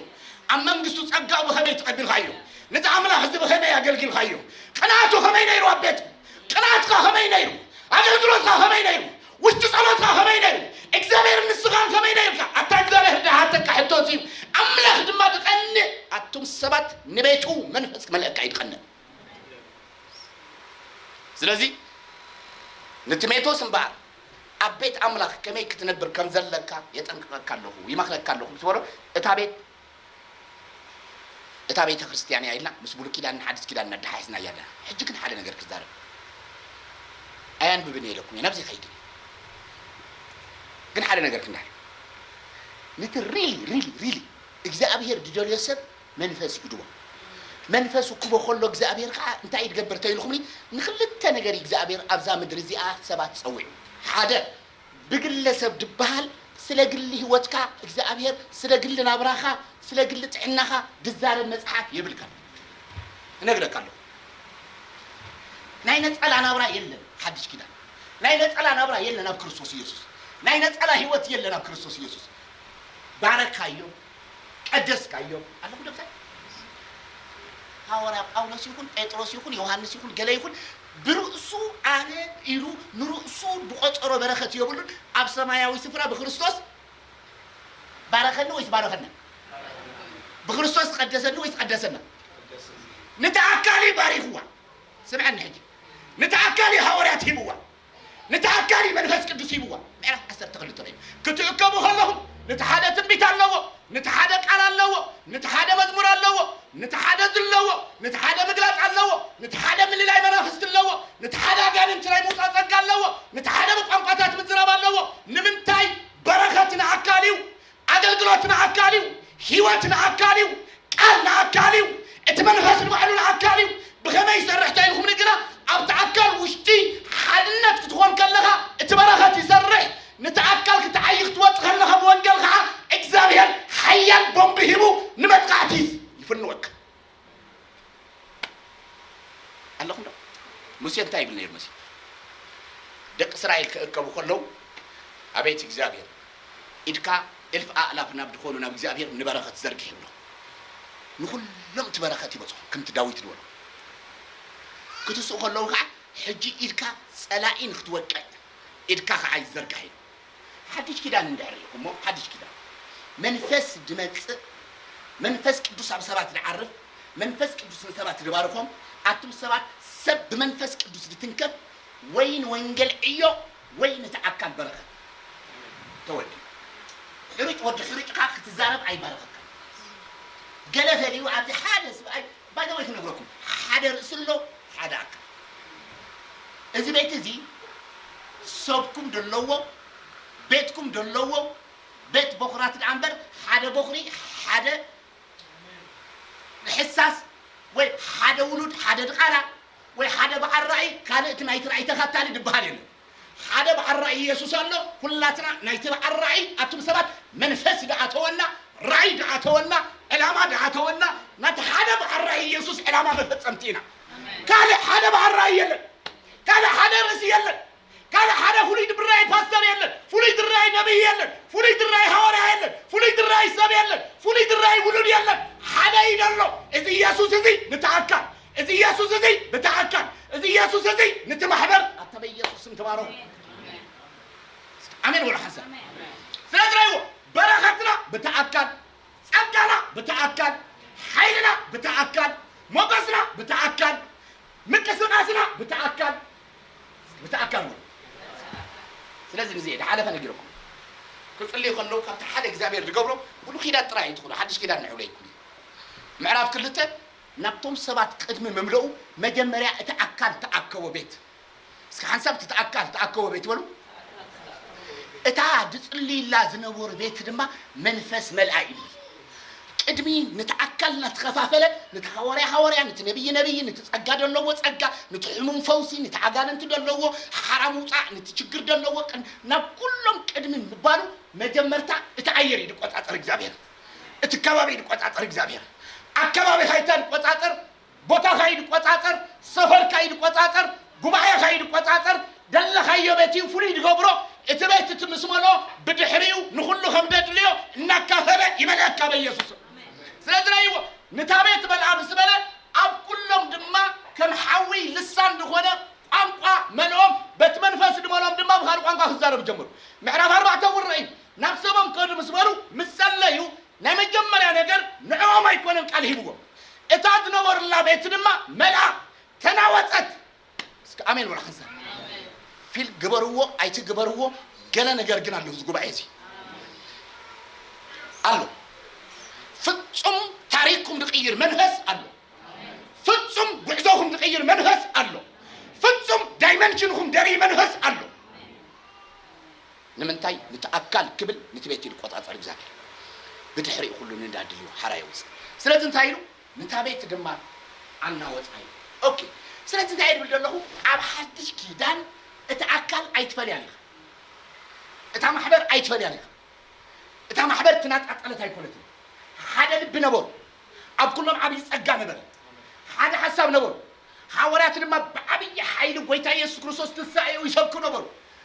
ኣብ መንግስቱ ጸጋኡ ብከመይ ተቀቢልካዮ ነቲ ኣምላኽ እዚ ብከመይ ኣገልጊልካዮ ቅንኣቱ ከመይ ነይሩ ኣብ ቤት ቅንኣትካ ከመይ ነይሩ ኣገልግሎትካ ከመይ ነይሩ ውሽጢ ጸሎትካ ከመይ ነይሩ እግዚኣብሔር ንስኻን ከመይ ነይርካ ኣታ እግዚኣብሔር ድሃተካ ሕቶ እዚ ኣምላኽ ድማ ድቀንእ ኣቱም ሰባት ንቤቱ መንፈስ ክመልአካ እዩ ድቀንእ ስለዚ ንቲሜቶስ እምበኣር ኣብ ቤት ኣምላኽ ከመይ ክትነብር ከም ዘለካ የጠንቅቐካ ኣለኹ፣ ይመኽረካ ኣለኹ ምስ በሎ፣ እታ ቤት እታ ቤተ ክርስቲያን እያ ኢልና ምስ ብሉይ ኪዳንን ሓዲስ ኪዳንን ኣደሓሒስና እያ ኣለና። ሕጂ ግን ሓደ ነገር ክዛረብ ኣያንብብን እየ ኢለኩም እየ ናብዚ ከይድን እየ ግን ሓደ ነገር ክንዳር ነቲ ሪሊ ሪሊ ሪሊ እግዚኣብሄር ዝደልዮ ሰብ መንፈስ ይእድዎ። መንፈሱ ክቦ ከሎ እግዚኣብሔር ከኣ እንታይ እዩ ድገብር ተይልኹምኒ ንክልተ ነገር እዩ እግዚኣብሔር ኣብዛ ምድሪ እዚኣ ሰባት ጸዊዑ ሓደ ብግለ ሰብ ድበሃል ስለ ግሊ ሕይወትካ እግዚኣብሔር ስለ ግሊ ናብራኻ ስለ ግሊ ጥዕናኻ ድዛረብ መጽሓፍ የብልካን እነግረካ ኣለኹ ናይ ነጸላ ናብራ የለን ሓድሽ ኪዳን ናይ ነጸላ ናብራ የለን ኣብ ክርስቶስ ኢየሱስ ናይ ነጸላ ሕይወት የለን ኣብ ክርስቶስ ኢየሱስ ባረካዮ ቀደስካዮ ኣለኹ ዶ ብታይ ሃዋርያ ጳውሎስ ይኹን ጴጥሮስ ይኹን ዮሃንስ ይኹን ገለ ይኹን ብርእሱ ኣነ ኢሉ ንርእሱ ብቆጸሮ በረኸት የብሉን ኣብ ሰማያዊ ስፍራ ብክርስቶስ ባረኸኒ ወይስ ባረኸና ብክርስቶስ ቀደሰኒ ወይስ ቀደሰና ንታ ኣካሊ ባሪኽዋ ስምዐኒ ሕጂ ንታ ኣካሊ ሃዋርያት ሂብዋ ነታ ኣካሊ መንፈስ ቅዱስ ሂብዋ ምዕራፍ ዓሰርተ ክልተ ርእዩ ክትእከቡ ከለኹም ነቲ ሓደ ትንቢት ኣለዎ ነቲ ሓደ ቃል ኣለዎ ነቲ ሓደ መዝሙር ኣለዎ ነቲ ሓደ ዝለዎ ነቲ ሓደ ምግላጽ ኣለዎ ነቲ ሓደ ምልላይ መናፍስቲ ኣለዎ ነቲ ሓደ ኣጋንንቲ ናይ ምውጻእ ጸጋ ኣለዎ ነቲ ሓደ ብቋንቋታት ምዝራብ ኣለዎ ንምንታይ በረኸት ንኣካል እዩ ኣገልግሎት ንኣካል እዩ፣ ህይወት ንኣካል እዩ፣ ቃል ንኣካል እዩ፣ እቲ መንፈስ ንባዕሉ ንኣካል እዩ፣ ብኸመይ ይሰርሕ ተኢልኩም ንግራ ኣብቲ ኣካል ውሽጢ ሓድነት ክትኾን ከለኻ እቲ በረኸት ይሰርሕ ንቲ ኣካል ክትዓዪ ክትወጽእ ከለኻ ብወንገል ኸዓ እግዚኣብሔር ሓያል ቦምቢ ሂቡ ንመጥቓዕቲ ይፍንወካ። ኣለኹም ዶ? ሙሴ እንታይ ይብል ነይሩ መሲሉ? ደቂ እስራኤል ክእከቡ ከለዉ ኣቤት እግዚኣብሔር ኢድካ እልፍ ኣእላፍ ናብ ድኾኑ ናብ እግዚኣብሔር ንበረኸት ዘርግሕ ይብሎ። ንኹሎም እቲ በረኸት ይበጽሖም ከምቲ ዳዊት ድበሎ። ክትስኡ ከለዉ ከኣ ሕጂ ኢድካ ጸላኢ ንክትወቅዕ ኢድካ ከኣ ይዘርጋሕ ኢሉ። ሓድሽ ኪዳን እንድሕር ሪኢኹሞ ሓድሽ ኪዳን መንፈስ ድመጽእ መንፈስ ቅዱስ ኣብ ሰባት ድዓርፍ መንፈስ ቅዱስ ንሰባት ድባርኾም ኣቱም ሰባት ሰብ ብመንፈስ ቅዱስ ድትንከፍ ወይ ንወንገል ዕዮ ወይ ነቲ ኣካል በረኸት ተወዲኡ ሕሩጭ ወዲ ሕሩጭ ካኣ ክትዛረብ ኣይባረኸካን ገለ ፈልዩ ኣብዚ ሓደ ስብኣይ ባይ ዘ ወይ ክነግረኩም ሓደ ርእሲ ኣሎ ሓደ ኣካል እዚ ቤት እዚ ሰብኩም ደለዎ ቤትኩም ደለዎ ቤት ቦኽራት ደኣ እምበር ሓደ ቦኽሪ ሓደ ሕሳስ ወይ ሓደ ውሉድ ሓደ ድቓላ ወይ ሓደ በዓል ራእይ ካልእ እቲ ናይቲ ራእይ ተኸታሊ ድበሃል የለን። ሓደ በዓል ራእይ የሱስ ኣሎ ኩላትና ናይቲ በዓል ራእይ ኣቱም ሰባት መንፈስ ደኣተወና ራእይ ደኣተወና ዕላማ ደኣተወና ናቲ ሓደ በዓል ራእይ የሱስ ዕላማ መፈጸምቲ ኢና ካልእ ሓደ በዓል ራእይ የለን ካልእ ሓደ ርእሲ የለን ካልእ ሓደ ፍሉይ ድብራይ ፓስተር የለን ፍሉይ ድራይ ነብይ የለን ፍሉይ ድራይ ሃዋርያ የለን ፍሉይ ድራይ ሰብ የለን ፍሉይ ድራይ ውሉድ የለን ሓደ ኢደሎ እዚ የሱስ እዚ ንተኣካል እዚ ኢየሱስ እዚ ብተኣካል እዚ ኢየሱስ እዚ ንቲ ማሕበር ኣታ በኢየሱስ ስም ተባረኹ ኣሜን ወላ ሓንሳ ስለዚ ረይዎ በረኸትና ብተኣካል ጸጋና ብተኣካል ሓይልና ብተኣካል ሞገስና ብተኣካል ምንቅስቃስና ብተኣካል ብተኣካል ነው ስለዚ ንዚ ዝሓለፈ ነጊረኩም ክጽልዩ ከለዉ ካብቲ ሓደ እግዚኣብሔር ዝገብሮ ብሉ ኪዳን ጥራይ ኣይትኹኑ ሓድሽ ኪዳን ንዕብለ ይኩን ምዕራፍ ክልተ ናብቶም ሰባት ቅድሚ ምምልኡ መጀመርያ እቲ ኣካል ተኣከቦ ቤት እስከ ሓንሳብ እቲ ኣካል ተኣከቦ ቤት በሉ እታ ዝጽልይላ ዝነበሩ ቤት ድማ መንፈስ መልኣ ኢሉ ቅድሚ ንቲ ኣካል ናተኸፋፈለ ንቲ ሃዋርያ ሃዋርያ ንቲ ነብይ ነብይ ንቲ ጸጋ ደለዎ ጸጋ ንቲ ሕሙም ፈውሲ ንቲ ኣጋንንቲ ደለዎ ሓራ ምውጻእ ንቲ ችግር ደለዎ ናብ ኩሎም ቅድሚ ምባሉ መጀመርታ እቲ ኣየር እዩ ድቆጻጸር እግዚኣብሔር እቲ ከባቢ ይቆጻጸር እግዚኣብሔር ኣከባቢኻ ይተቆጻጸር ቦታኻ ይቆጻጸር ሰፈርካ ይቆጻጸር ጉባኤኻ ይቆጻጸር ደለኻዮ ቤት እዩ ፍሉይ ድገብሮ እቲ ቤት እቲ ምስ መልኦ ብድሕሪኡ ንኹሉ ከም ደድልዮ እናካፈለ ይመልኣካ በኢየሱስ ስለዚ ናይዎ ንታ ቤት መልኣ ምስ በለ ኣብ ኩሎም ድማ ከም ሓዊ ልሳን ዝኾነ ቋንቋ መልኦም በቲ መንፈስ ድመሎም ድማ ብኻልእ ቋንቋ ክዛረቡ ጀመሩ ምዕራፍ ኣርባዕተ እውን ርእይ ናብ ሰቦም ከዱ ምስ በሉ ምስ ጸለዩ ናይ መጀመርያ ነገር ንዕኦም ኣይኮነን ቃል ሂብዎም እታ ዝነበሩላ ቤት ድማ መልኣ ተናወጸት እስከ ኣሜን በሉ ሓንሳብ ፊል ግበርዎ ኣይትግበርዎ ገለ ነገር ግን ኣለዎ እዚ ጉባኤ እዚ ኣሎ ፍጹም ታሪክኩም ዝቅይር መንፈስ ኣሎ ፍጹም ጉዕዞኹም ዝቅይር መንፈስ ኣሎ ፍጹም ዳይመንሽንኹም ደርኢ መንፈስ ኣሎ ንምንታይ ንቲ ኣካል ክብል ንቲ ቤት ይልቆጻጸር እግዚኣብሔር ብድሕሪኡ ኩሉ ንንዳ ድዩ ሓራ የውጽእ ስለዚ እንታይ ኢሉ ንታ ቤት ድማ ኣናወጻ ኢሉ ኦኬ ስለዚ እንታይ እየ ድብል ደለኹ ኣብ ሓድሽ ኪዳን እቲ ኣካል ኣይትፈልያን ኢኻ እታ ማሕበር ኣይትፈልያን ኢኻ እታ ማሕበር ትናጣጠለት ኣይኮነትን ሓደ ልቢ ነበሩ ኣብ ኩሎም ዓብይ ጸጋ ነበረ ሓደ ሓሳብ ነበሩ ሓወርያት ድማ ብዓብይ ሓይሊ ጎይታ ኢየሱስ ክርስቶስ ትንሳኤኡ ይሰብኩ ነበሩ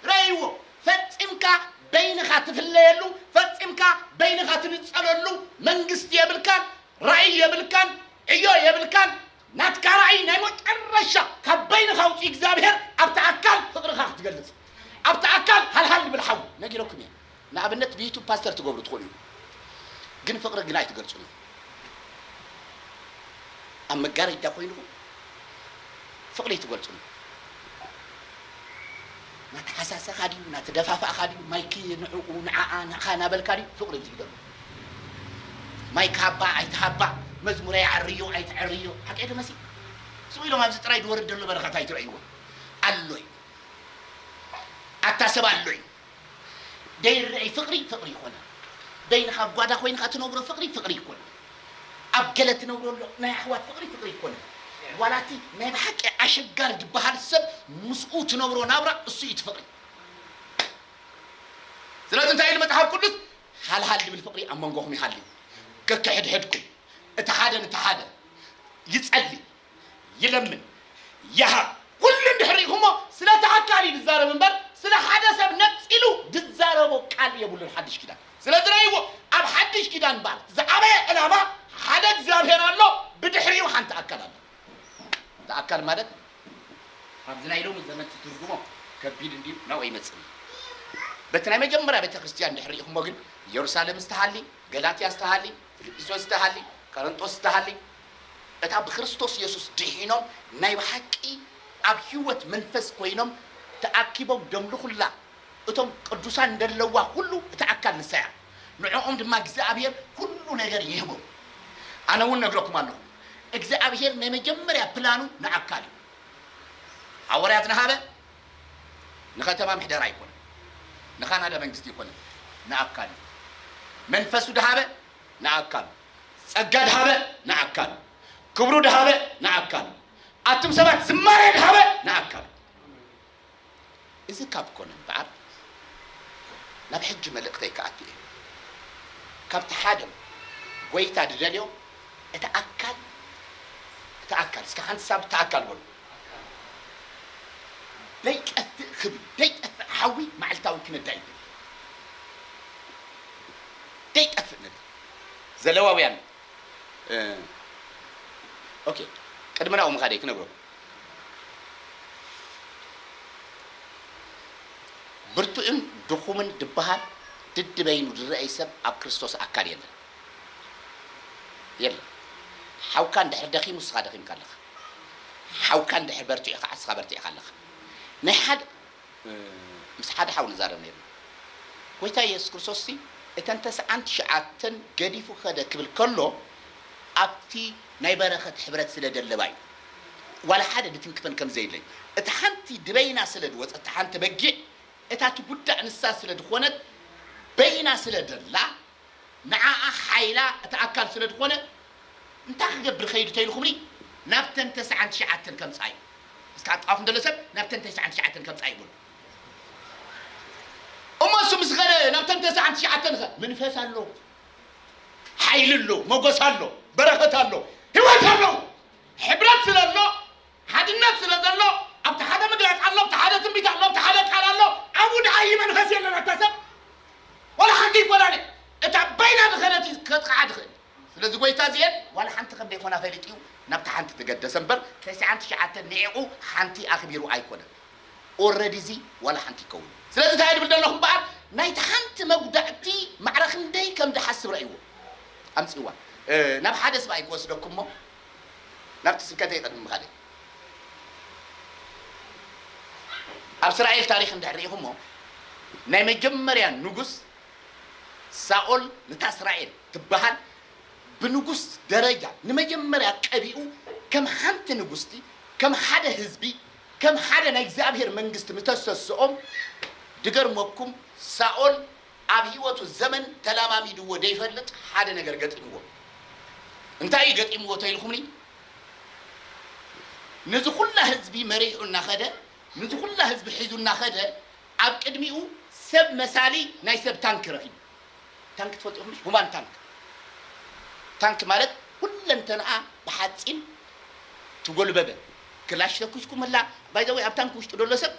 ርኣይዎ፣ ፈጺምካ በይንኻ ትፍለየሉ፣ ፈጺምካ በይንኻ ትንጸለሉ መንግስቲ የብልካን፣ ራእይ የብልካን፣ ዕዮ የብልካን፣ ናትካ ራእይ ናይ መጨረሻ ካብ በይንኻ ውጺ እግዚኣብሔር ኣብቲ ኣካል ፍቅርኻ ክትገልጽ፣ ኣብቲ ኣካል ሃልሃል ዝብል ሓዊ ነጊረኩም እየ። ንኣብነት ብዩቱብ ፓስተር ትገብሩ ትኽእሉ ኢኹም ግን ፍቅሪ ግን ኣይትገልጹን ኢኹም ኣብ መጋረጃ ኮይንኹም ፍቅሪ ኣይትገልጹን ኢኹም ናተሓሳሰኻ ድዩ ናተደፋፋእኻ ድዩ ማይክ ንዕኡ ንዓኣ ንዓኻ ናበልካ ድዩ ፍቅሪ ዝብደሉ ማይክ ሃባ ኣይትሃባ መዝሙረ ይዓርዮ ኣይትዕርዮ ሓቀይ ዶ መሲ ስቅ ኢሎም ኣብዚ ጥራይ ዝወርድ ዘሎ በረኸት ኣይትረእይዎ ኣሎ እዩ ኣታ ሰብ ኣሎ እዩ ደይረኣይ ፍቅሪ ፍቅሪ ይኮና በይንካ ኣብ ጓዳ ኮይንካ ትነብሮ ፍቅሪ ፍቅሪ ይኮና ኣብ ገለ ትነብሮ ኣሎ ናይ ኣሕዋት ፍቅሪ ፍቅሪ ይኮና ዋላ እቲ ናይ ብሓቂ ኣሸጋሪ ድበሃል ሰብ ምስኡ ትነብሮ ናብራ እሱ እዩ እቲ ፍቅሪ ስለዚ እንታይ ኢሉ መጽሓፍ ቅዱስ ሃልሃል ድብል ፍቅሪ ኣብ መንጎኹም ይሃልዩ ከከሕድሕድኩም እቲ ሓደ ንቲ ሓደ ይጸሊ ይለምን ይሃብ ኩሉ እንድሕር ሪኢኹሞ ስለ እቲ ኣካል እዩ ዝዛረብ እምበር ስለ ሓደ ሰብ ነጺሉ ዝዛረቦ ቃል የብሉን ሓድሽ ኪዳን ስለዚ ረእይዎ ኣብ ሓድሽ ኪዳን በኣል እቲ ዝዓበየ ዕላማ ሓደ እግዚኣብሔር ኣሎ ብድሕሪኡ ሓንቲ ኣካል ኣላ እቲ ኣካል ማለት ኣብዚ ናይ ሎሚ ዘመን ትትርጉሞ ከቢድ እንድዩ ናብኡ ኣይመጽእን እዩ በቲ ናይ መጀመርያ ቤተ ክርስቲያን እንድሕር ሪኢኹሞ ግን ኢየሩሳሌም ዝተሃሊ ገላትያ ዝተሃሊ ፊልጵስዮስ ዝተሃሊ ቀረንጦስ ዝተሃሊ እታ ብክርስቶስ የሱስ ድሒኖም ናይ ብሓቂ ኣብ ህይወት መንፈስ ኮይኖም ተኣኪቦም ደምልኹላ እቶም ቅዱሳን ደለዋ ኩሉ እቲ ኣካል ንሳ እያ ንዕኦም ድማ እግዚኣብሄር ኩሉ ነገር ይህቦም ኣነ ውን ነግረኩም ኣለኹ እግዚኣብሄር ናይ መጀመርያ ፕላኑ ንኣካል እዩ ሃወርያት ንሃበ ንኸተማ ምሕደራ ኣይኮነን ንካናዳ መንግስቲ ኣይኮነን ንኣካል እዩ መንፈሱ ድሃበ ንኣካሉ ጸጋ ድሃበ ንኣካሉ ክብሩ ድሃበ ንኣካሉ ኣቱም ሰባት ዝማሬ ድሃበ ንኣካሉ እዚ ካብ ኮነ እምበኣር ናብ ሕጂ መልእኽተይ ክኣቱ እየ ካብቲ ሓደ ጎይታ ድደልዮ እቲ ኣካል እቲ ኣካል እስከ ሓንቲ ሳብ እቲ ኣካል በሉ ደይጠፍእ ክብሪ ደይጠፍእ ሓዊ ማዕልታዊ ክነዳ ይደሊ ደይጠፍእ ነዳ ዘለዋውያን ኦኬ ቅድሚ ናብኡ ምኻደይ ክነግረኩም ብርቱዕን ድኹምን ድበሃል ድድ በይኑ ድረኣይ ሰብ ኣብ ክርስቶስ ኣካል የለን የለን ሓውካ እንድሕር ደኺሙ ንስኻ ደኺምካ ኣለኻ ሓውካ እንድሕር በርቲዑ ከዓ ንስኻ በርቲዕካ ኣለኻ ናይ ሓደ ምስ ሓደ ሓው ንዛረብ ኔርና፣ ጐይታ የሱስ ክርስቶስሲ እተን ተስዓን ትሽዓተን ገዲፉ ከደ ክብል ከሎ ኣብቲ ናይ በረኸት ሕብረት ስለ ደለባ እዩ። ዋላ ሓደ ድትንክፈን ከም ዘይድለይ፣ እታ ሓንቲ ድበይና ስለ ድወጸት፣ እታ ሓንቲ በጊዕ እታ ትጉዳእ ንሳ ስለ ድኾነት በይና ስለ ደላ ንዓኣ ሓይላ እቲ ኣካል ስለ ዝኾነ እንታይ ክገብር ይኸይድ እተይልኩምኒ ናብተን ተስዓን ትሽዓተን ከምጻዩ እስካ ጣዋፍ እንደሎ ሰብ ናብተን ተስዓን ትሽዓተን ከምጻዩ በሉ እሞ እሱ ምስ ኸደ ናብተን ተስዓን ትሽዓተን ኸ መንፈስ ኣሎ ሓይሊ ኣሎ መጎስ ኣሎ በረኸት ኣሎ ህይወት ኣሎ ሕብረት ስለ ኣሎ ሓድነት ስለ ዘሎ ኣብቲ ሓደ ምግላጽ ኣሎ ኣብቲ ሓደ ትንቢት ኣሎ ኣብቲ ሓደ ቃል ኣሎ። ኣብኡ ደኣ ኢዩ መንፈስ የለን ኣታ ሰብ ዋላ ሓንቲ ይፈላለ እታ በይና ዝኸነት ኢዩ ከጥቕዓ ዝኽእል ስለዚ ጎይታ እዚኤን ዋላ ሓንቲ ከም ደይኮና ፈሊጡ ኢዩ ናብታ ሓንቲ ተገደሰ እምበር ተስዓን ትሽዓተን ኒዒቑ ሓንቲ ኣኽቢሩ ኣይኮነን ኦረዲ እዚ ዋላ ሓንቲ ይከውን ኢዩ ስለዚ ታይ ድብል ደለኹ እምበኣር ናይቲ ሓንቲ መጉዳእቲ ማዕረ ክንደይ ከም ድሓስብ ረእይዎ ኣምጽዋ ናብ ሓደ ስብ ኣይክወስደኩሞ ናብቲ ስብከተይ ቅድሚ ምኻደይ ኣብ እስራኤል ታሪኽ እንድሕር ርኢኹሞ ናይ መጀመርያ ንጉስ ሳኦል ነታ እስራኤል ትበሃል ብንጉስ ደረጃ ንመጀመርያ ቀቢኡ ከም ሓንቲ ንጉስቲ ከም ሓደ ህዝቢ ከም ሓደ ናይ እግዚኣብሔር መንግስቲ ምተሰስኦም ድገርመኩም ሳኦል ኣብ ህይወቱ ዘመን ተላማሚድዎ ደይፈልጥ ሓደ ነገር ገጢምዎ እንታይ እዩ ገጢምዎ ተኢልኩምኒ ንዚ ኩላ ህዝቢ መሪሑ እናኸደ ንዚ ኩላ ህዝቢ ሒዙ እናኸደ ኣብ ቅድሚኡ ሰብ መሳሊ ናይ ሰብ ታንክ ረኺቡ ታንክ ትፈልጡ ኢኹም ሁማን ታንክ ታንክ ማለት ኩለንተንኣ ብሓፂን ትጎልበበ ክላሽ ተኩስኩምላ ባይዘወይ ኣብ ታንክ ውሽጢ ደሎ ሰብ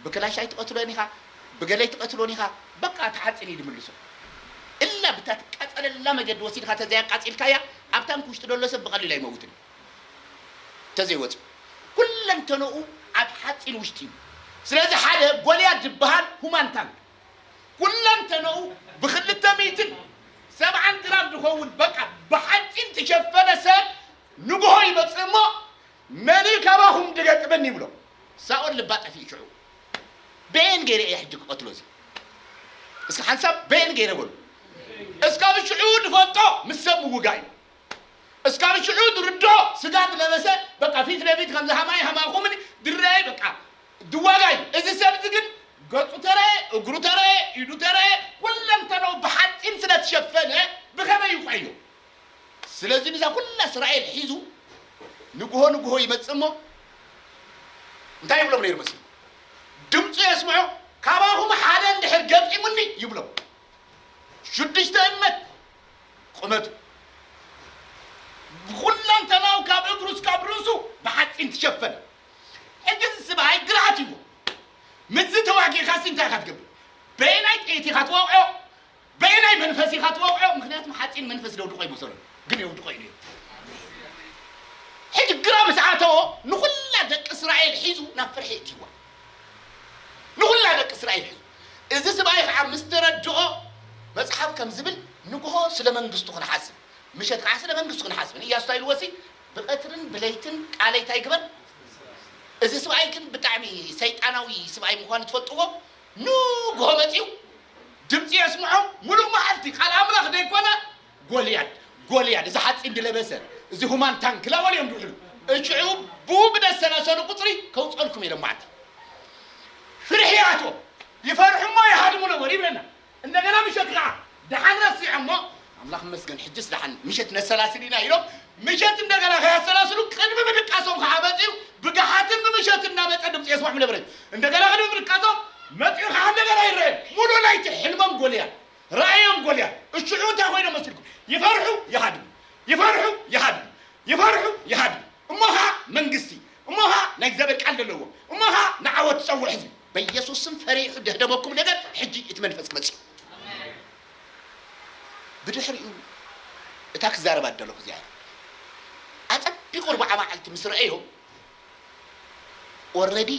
ብክላሽ ኣይትቀትሎን ኢካ ብገለ ኣይትቀትሎን ኢካ በቃ ተሓጺን እዩ ድምልሶ እላ ብታ ትቃጸለላ መገዲ ወሲድካ ተዘይ ኣቃጺልካያ ኣብ ታንኪ ውሽጢ ደሎ ሰብ ብቀሊሉ ኣይመውትን እዩ ተዘይ ወጺኡ ኩለንተኖኡ ኣብ ሓጺን ውሽጢ እዩ ስለዚ ሓደ ጎልያድ ዝብሃል ሁማን ታንክ ኩለንተኖኡ ብክልተ ሚእትን ሰብዓን ግራም ዝከውን በቃ ብሓጺን ትሸፈነ ሰብ ንግሆ ይመጽእ እሞ መን'ዩ ካባኹም ድገጥመኒ ይብሎ። ሳኦል ልባ ጠፊኡ ሽዑ በየን ገይረ እየ ሕጂ ክቐትሎ እዚ እስከ ሓንሳብ በየን ገይረ በሉ እስካብ ሽዑ ድፈልጦ ምስ ሰብ ምውጋእ እዩ እስካብ ሽዑ ድርድኦ ስጋ ድለበሰ በቃ ፊት ለፊት ከምዚ ሃማይ ሃማኹምኒ ድረኣየ በቃ ድዋጋ እዩ እዚ ሰብ እዚ ግን ገጹ ተረኣየ እግሩ ተረኣየ ኢዱ ተረኣየ ኩለንተነኡ ብሓጺን ስለ ትሸፈነ ብኸመይ ይውቃዮ ስለዚ ነዛ ኩላ እስራኤል ሒዙ ንግሆ ንግሆ ይመጽእ እሞ እንታይ ይብሎም ነይሩ መሲልኩም? ድምጹ የስምዑ፣ ካባኹም ሓደ እንድሕር ገጢሙኒ ይብሎም። ሽዱሽተ እመት ቁመቱ፣ ብኹለንተናኡ ካብ እግሩ እስካብ ርእሱ ብሓጺን ትሸፈነ። ሕጂ እዚ ስብኣይ ግርሃት ይብሎ፣ ምስዚ ተዋጊእካሲ እንታይ ኢኻ ትገብር? በየናይ ጥይት ኢኻ ትወቕዖ? በየናይ መንፈስ ኢኻ ትወቕዖ? ምክንያቱም ሓፂን መንፈስ ደውድቆ ይመሰሉ ግን የውድቆ ኢሉ እዩ። ሕጂ ግራ ምስ ኣተዎ ንኹላ ደቂ እስራኤል ሒዙ ናብ ፍርሒ እትይዋ ንኹላ ደቂ እስራኤል ሒዙ እዚ ስብኣይ ከዓ ምስ ተረድኦ መፅሓፍ ከም ዝብል ንግሆ ስለ መንግስቱ ክንሓስብ ምሸት ከዓ ስለ መንግስቱ ክንሓስብ ንእያሱ እንታይ ኢልዎ ሲ ብቐትርን ብለይትን ቃለይ እንታይ ግበር እዚ ስብኣይ ግን ብጣዕሚ ሰይጣናዊ ስብኣይ ምዃኑ ትፈልጥዎ ንግሆ መጺኡ ድምጺ የስምዖም፣ ምሉእ መዓልቲ ቃል ኣምላኽ ደይኮነ፣ ጎልያድ! ጎልያድ! እዚ ሓጺን ድለበሰ፣ እዚ ሁማን ታንክ ላወል እዮም ድውዕሉ። እጅዑ ብኡ ብደሰላሰሉ ቁጽሪ ከውጸልኩም ኢሎም መዓልቲ። ፍርሒ ኣትዎም፣ ይፈርሑሞ ይሃድሙ ነበሩ ይብለና። እንደገና ምሸት ከኣ ደሓን ረሲዖሞ ኣምላኽ ይመስገን ሕጅስ ደሓን ምሸት ነሰላስል ኢና ኢሎም ምሸት እንደገና ከያሰላስሉ ቅድሚ ምድቃሶም ከዓ መፅኡ ብገሓትን ብምሸት እናመፀ ድምፂ የስምዖም ነበረ እንደገና ቅድሚ ምድቃሶም መፅኡ ከዓ እንደገና ይረአዮም ሙሉእ ለይቲ ሕልሞም ጎልያ ራእዮም ጎልያ እሽዑ እንታይ ኮይኖም መስልኩም ይፈርሑ ይሃድሙ ይፈርሑ ይሃድሙ ይፈርሑ ይሃድሙ እሞ ኸኣ መንግስቲ እሞ ኸኣ ናይ እግዚኣብሔር ቃል ደለዎ እሞ ኸኣ ንዓወት ዝጸውዕ ህዝቢ በየሱስ ስም ፈሪሑ ደህደመኩም ነገር ሕጂ እቲ መንፈስ ክመጽእ እዩ ብድሕሪኡ እታ ክዛረባ ደለኹ እዚኣ እያ ኣጸቢቑ ርብዓ መዓልቲ ምስ ረኣዮ ኦረዲ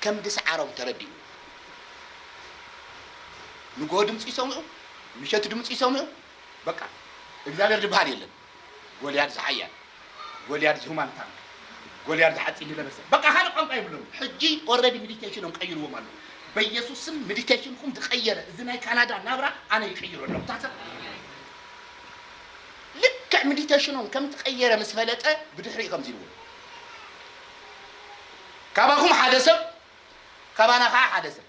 ከም ድስዓሮም ተረዲኡ ንግሆ ድምጺ ይሰምዑ ምሸት ድምጺ ይሰምዑ በቃ እግዚኣብሔር ድብሃል የለን ጎልያድ ዝሓያል ጎልያድ ዝሁማን ታንክ ጎልያድ ዝሓጺን ዝለበሰ በቃ ካልእ ቋንቋ የብሎምን ሕጂ ኦረዲ ምዲቴሽኖም ቀይርዎም ኣለዉ በየሱስ ስም ምዲቴሽንኩም ዝቀየረ እዚ ናይ ካናዳ ናብራ ኣነ ይቅይሮ ኣለኩ እታ ሰብ ልክዕ ምዲቴሽኖም ከምትቀየረ ምስ ፈለጠ ብድሕሪኡ ከምዚ ኢልዎም ካባኩም ሓደ ሰብ ካባና ከኣ ሓደ ሰብ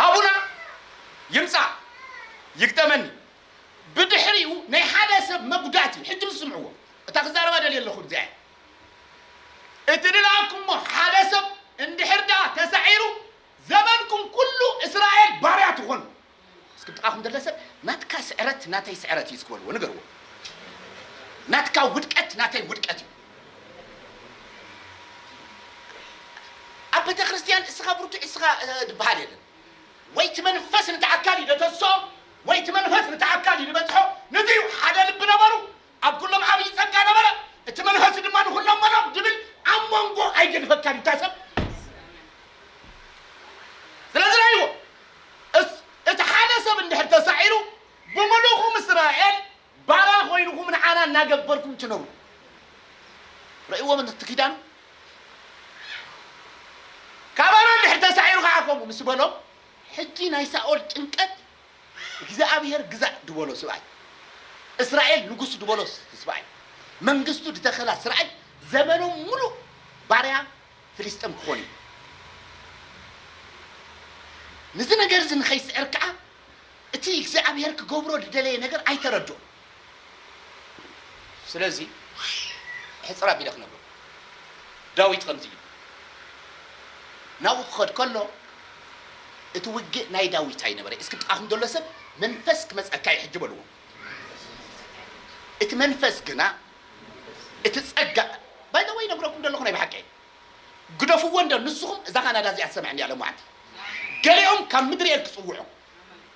ሃቡና ይምጻእ ይግጠመኒ ብድሕሪኡ ናይ ሓደ ሰብ መጉዳእቲ ሕጂ ምስምዕዎ እታ ክዛረባ ደልየ ኣለኹ እዚኣ እቲ ንልኣኩሞ ሓደ ሰብ እንድሕር ደኣ ተሳዒሩ ዘመንኩም ኩሉ እስራኤል ባርያ ትኾኑ እስኪ ብጥቓኹም ደለ ሰብ ናትካ ስዕረት ናተይ ስዕረት እዩ እስኪ በልዎ ንገርዎ ናትካ ውድቀት ናተይ ውድቀት እዩ ኣብ ቤተክርስትያን እስኻ ብርቱዕ እስኻ ዝበሃል የለን ወይ እቲ መንፈስ ነቲ ኣካል ይደተስኦ ወይ እቲ መንፈስ ነቲ ኣካል ይበጽሖ ነዚ እዩ ሓደ ልቢ ነበሩ ኣብ ኩሎም ዓብዪ ጸጋ ነበረ፣ እቲ መንፈስ ድማ ንኹሎም መሎም ድብል ኣብ መንጎ ኣይገድፈካን እዩ እታ ሰብ ስለዚ ረይዎ እስ እቲ ሓደ ሰብ እንድሕር ተሳዒሩ ብምሉኹም እስራኤል ባራ ኮይንኹም ንዓና እናገበርኩም ትነብሩ ረይዎ ምን እቲ ኪዳኑ ካባና እንድሕር ተሳዒሩ ከዓ ከምኡ ምስ በሎም ሕጂ ናይ ሳኦል ጭንቀት እግዚኣብሄር ግዛእ ድበሎ ስብኣይ፣ እስራኤል ንጉስ ድበሎ ስብኣይ፣ መንግስቱ ድተከላ ስርኣይ ዘመኖም ምሉእ ባርያ ፍሊስጠም ክኾኑ እዩ። ንዚ ነገርዚ ንኸይስዕር ከኣ እቲ እግዚኣብሄር ክገብሮ ድደለየ ነገር ኣይተረድኦን። ስለዚ ሕጽር ኣቢለ ክነግሮ ዳዊት ከምዚ ኢሉ ናብኡ ክኸድ ከሎ እቲ ውግእ ናይ ዳዊት ኣይነበረ እስኪ ጥቃኹም ዘሎ ሰብ መንፈስ ክመጸካ እዩ ሕጂ በልዎ እቲ መንፈስ ግና እቲ ጸጋ ባይ ዘ ወይ ነግረኩም ዘለኹ ናይ ብሓቂ እየ ግደፍዎ እንዶ ንስኹም እዛ ካናዳ እዚኣ ትሰምዐኒ እያ ሎማዓንቲ ገሊኦም ካብ ምድሪ ኤል ክጽውዑ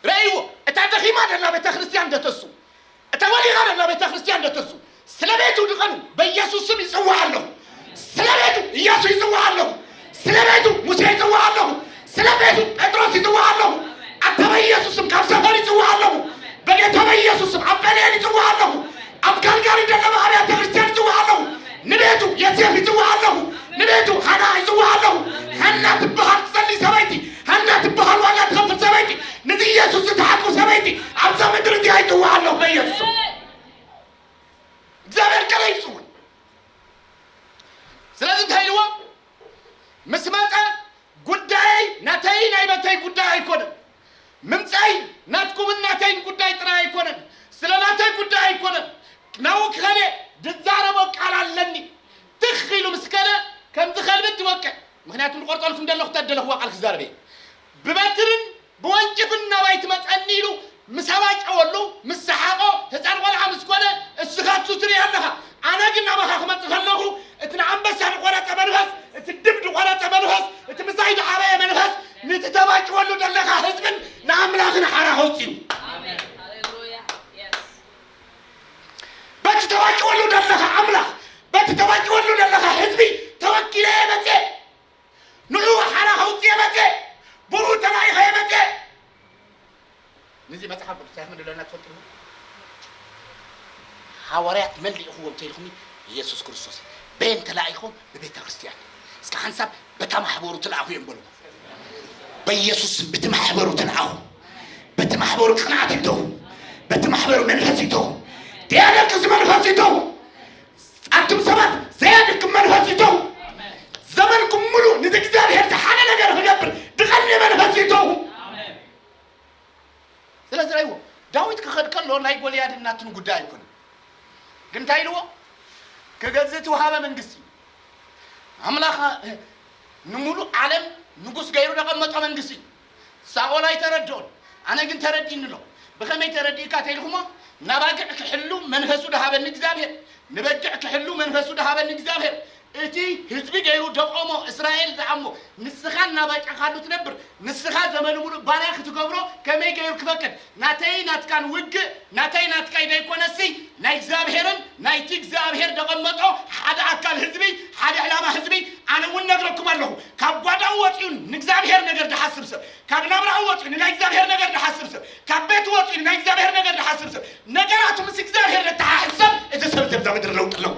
ረእይዎ እታ ደኺማ ደላ ቤተክርስትያን ደተሱ እታ ወዲቓ ደላ ቤተክርስትያን ደተሱ ስለ ቤቱ ድቐኑ በኢየሱስ ስም ይጽዋዕ ኣለኹ ስለ ቤቱ ኢየሱስ ይጽዋዕ ኣለኹ ስለ ቤቱ ሙሴ ይጽዋዕ ኣለኹ ስለ ቤቱ ጴጥሮስ ይጽዋዕ ኣለኹ ኣታ በኢየሱስ ስም ካብ ሰፈር ይጽዋዕ ኣለኹ በጌታ በኢየሱስ ስም ኣብ ጴንኤል ይጽዋዕ ኣለኹ ኣብ ካልጋሪ ደለባ ኣብያተ ክርስትያን ይጽዋዕ ኣለኹ ንቤቱ የሴፍ ይጽዋዕ ኣለኹ ንቤቱ ሃና ይጽዋዕ ኣለኹ ሃና ትበሃል ትጸሊ ሰበይቲ ሃና ትበሃል ዋጋ ትኸፍል ሰበይቲ ንዚ ኢየሱስ ዝተሓቁ ሰበይቲ ኣብዛ ምድሪ እዚኣ ይጽዋዕ ኣለኹ በኢየሱስ እግዚኣብሔር ቀለ ይጽውዕ ስለዚ እንታይ ኢልዎ ምስ መጠ ጉዳየይ ናተይ ናይ መተይ ጉዳይ ኣይኮነን ምምጻይ ናትኩምን ናተይን ጉዳይ ጥራይ ኣይኮነን ስለ ናተይ ጉዳይ ኣይኮነን ናው ክኸደ ድዛረቦ ቃል ኣለኒ ትኽ ኢሉ ምስ ከደ ከምዚ ከልብት ይወቅዕ ምኽንያቱ ንቆርጸልኩም ደለኹ ተደለኽዋ ቃል ክዛረብ እየ ብበትርን ብወንጭፍን ናባይ ትመጸኒ ኢሉ ምስ ኣባጨወሉ ምስ ሰሓቆ ህጻን ቆልዓ ምስ ኮነ እስኻ ትሱ ትርኢ ኣለኻ ኣነ ግን ናባኻ ክመጽእ ከለኹ እቲ ንኣንበሳ ድቆረጸ መንፈስ እቲ ድብ ድቆረጸ መንፈስ እቲ ምሳይ ድዓበየ መንፈስ ንቲ ተባጭወሉ ደለኻ ህዝብን ንኣምላኽን ሓራ ከውጽዩ በቲ ተባጭወሉ ደለኻ ኣምላኽ በቲ ተባጭወሉ ደለኻ ህዝቢ ተወኪለ እየ መጽየ ንዑ ሓራ ከውጽየ መጽየ ብኡ ተላኢኸ እየ መጽየ ነዚ መጽሓፍ ቅዱስ እንታይ ከም ደለና ትፈልጡ ዶ? ሃዋርያት መን ልኢኽዎም እንተኢልኩምኒ የሱስ ክርስቶስ እዩ። በየን ተላኢኹም? ብቤተ ክርስቲያን። እስከ ሓንሳብ በታ ማሕበሩ ተላእኹ እዮም በሉ። በየሱስ ስም በቲ ማሕበሩ ተላእኹ። በቲ ማሕበሩ ቅንዓት ይእተዉ። በቲ ማሕበሩ መንፈስ ይእተዉ። ደያደቅስ መንፈስ ይእተዉ። ኣቱም ሰባት ዘያድክም መንፈስ ይእተዉ። ዘመንኩም ሙሉ ነዚ እግዚኣብሔር ዝሓነ ነገር ክገብር ድቐኒ መንፈስ ይእተዉ። ስለዚ ርኣይዎ፣ ዳዊት ክኸድ ከሎ ናይ ጎልያድን ናቱን ጉዳይ ኣይኮነን። ግን እንታይ ኢልዎ? ክገዝእ እትውሃበ መንግስቲ፣ ኣምላኽ ንምሉእ ዓለም ንጉስ ገይሩ ዘቐመጦ መንግስቲ እዩ። ሳኦል ኣይተረድኦን፣ ኣነ ግን ተረዲእኒ ኣሎ። ብኸመይ ተረዲእካ እንተኢልኩሞ፣ ንኣባግዕ ክሕሉ መንፈሱ ዝሃበኒ እግዚኣብሄር፣ ንበጊዕ ክሕሉ መንፈሱ ዝሃበኒ እግዚኣብሄር፣ እቲ ህዝቢ ገይሩ ደቆሞ እስራኤል ዝኣሞ ንስኻ እናባጨኻሉ ትነብር ንስኻ ዘመኑ ሙሉእ ባርያ ክትገብሮ ከመይ ገይሩ ክፈቅድ ናተይይ ናትካን ውግእ ናተይ ናትካይ ደይኮነሲ ናይ እግዚኣብሔርን ናይቲ እግዚኣብሔር ደቀመጦ ሓደ ኣካል ህዝቢ ሓደ ዕላማ ህዝቢ ኣነ እውን ነግረኩም ኣለኹ ካብ ጓዳኡ ወፂኡ ንእግዚኣብሔር ነገር ድሓስብ ሰብ ካብ ናብራኡ ወፂኡ ንናይ እግዚኣብሔር ነገር ድሓስብ ሰብ ካብ ቤቱ ወፂኡ ንናይ እግዚኣብሔር ነገር ድሓስብ ሰብ ነገራቱ ምስ እግዚኣብሔር ደተሓሕዝ ሰብ እቲ ሰብ እዚ ኣብዛ ምድሪ ለውጢ ኣለዎ።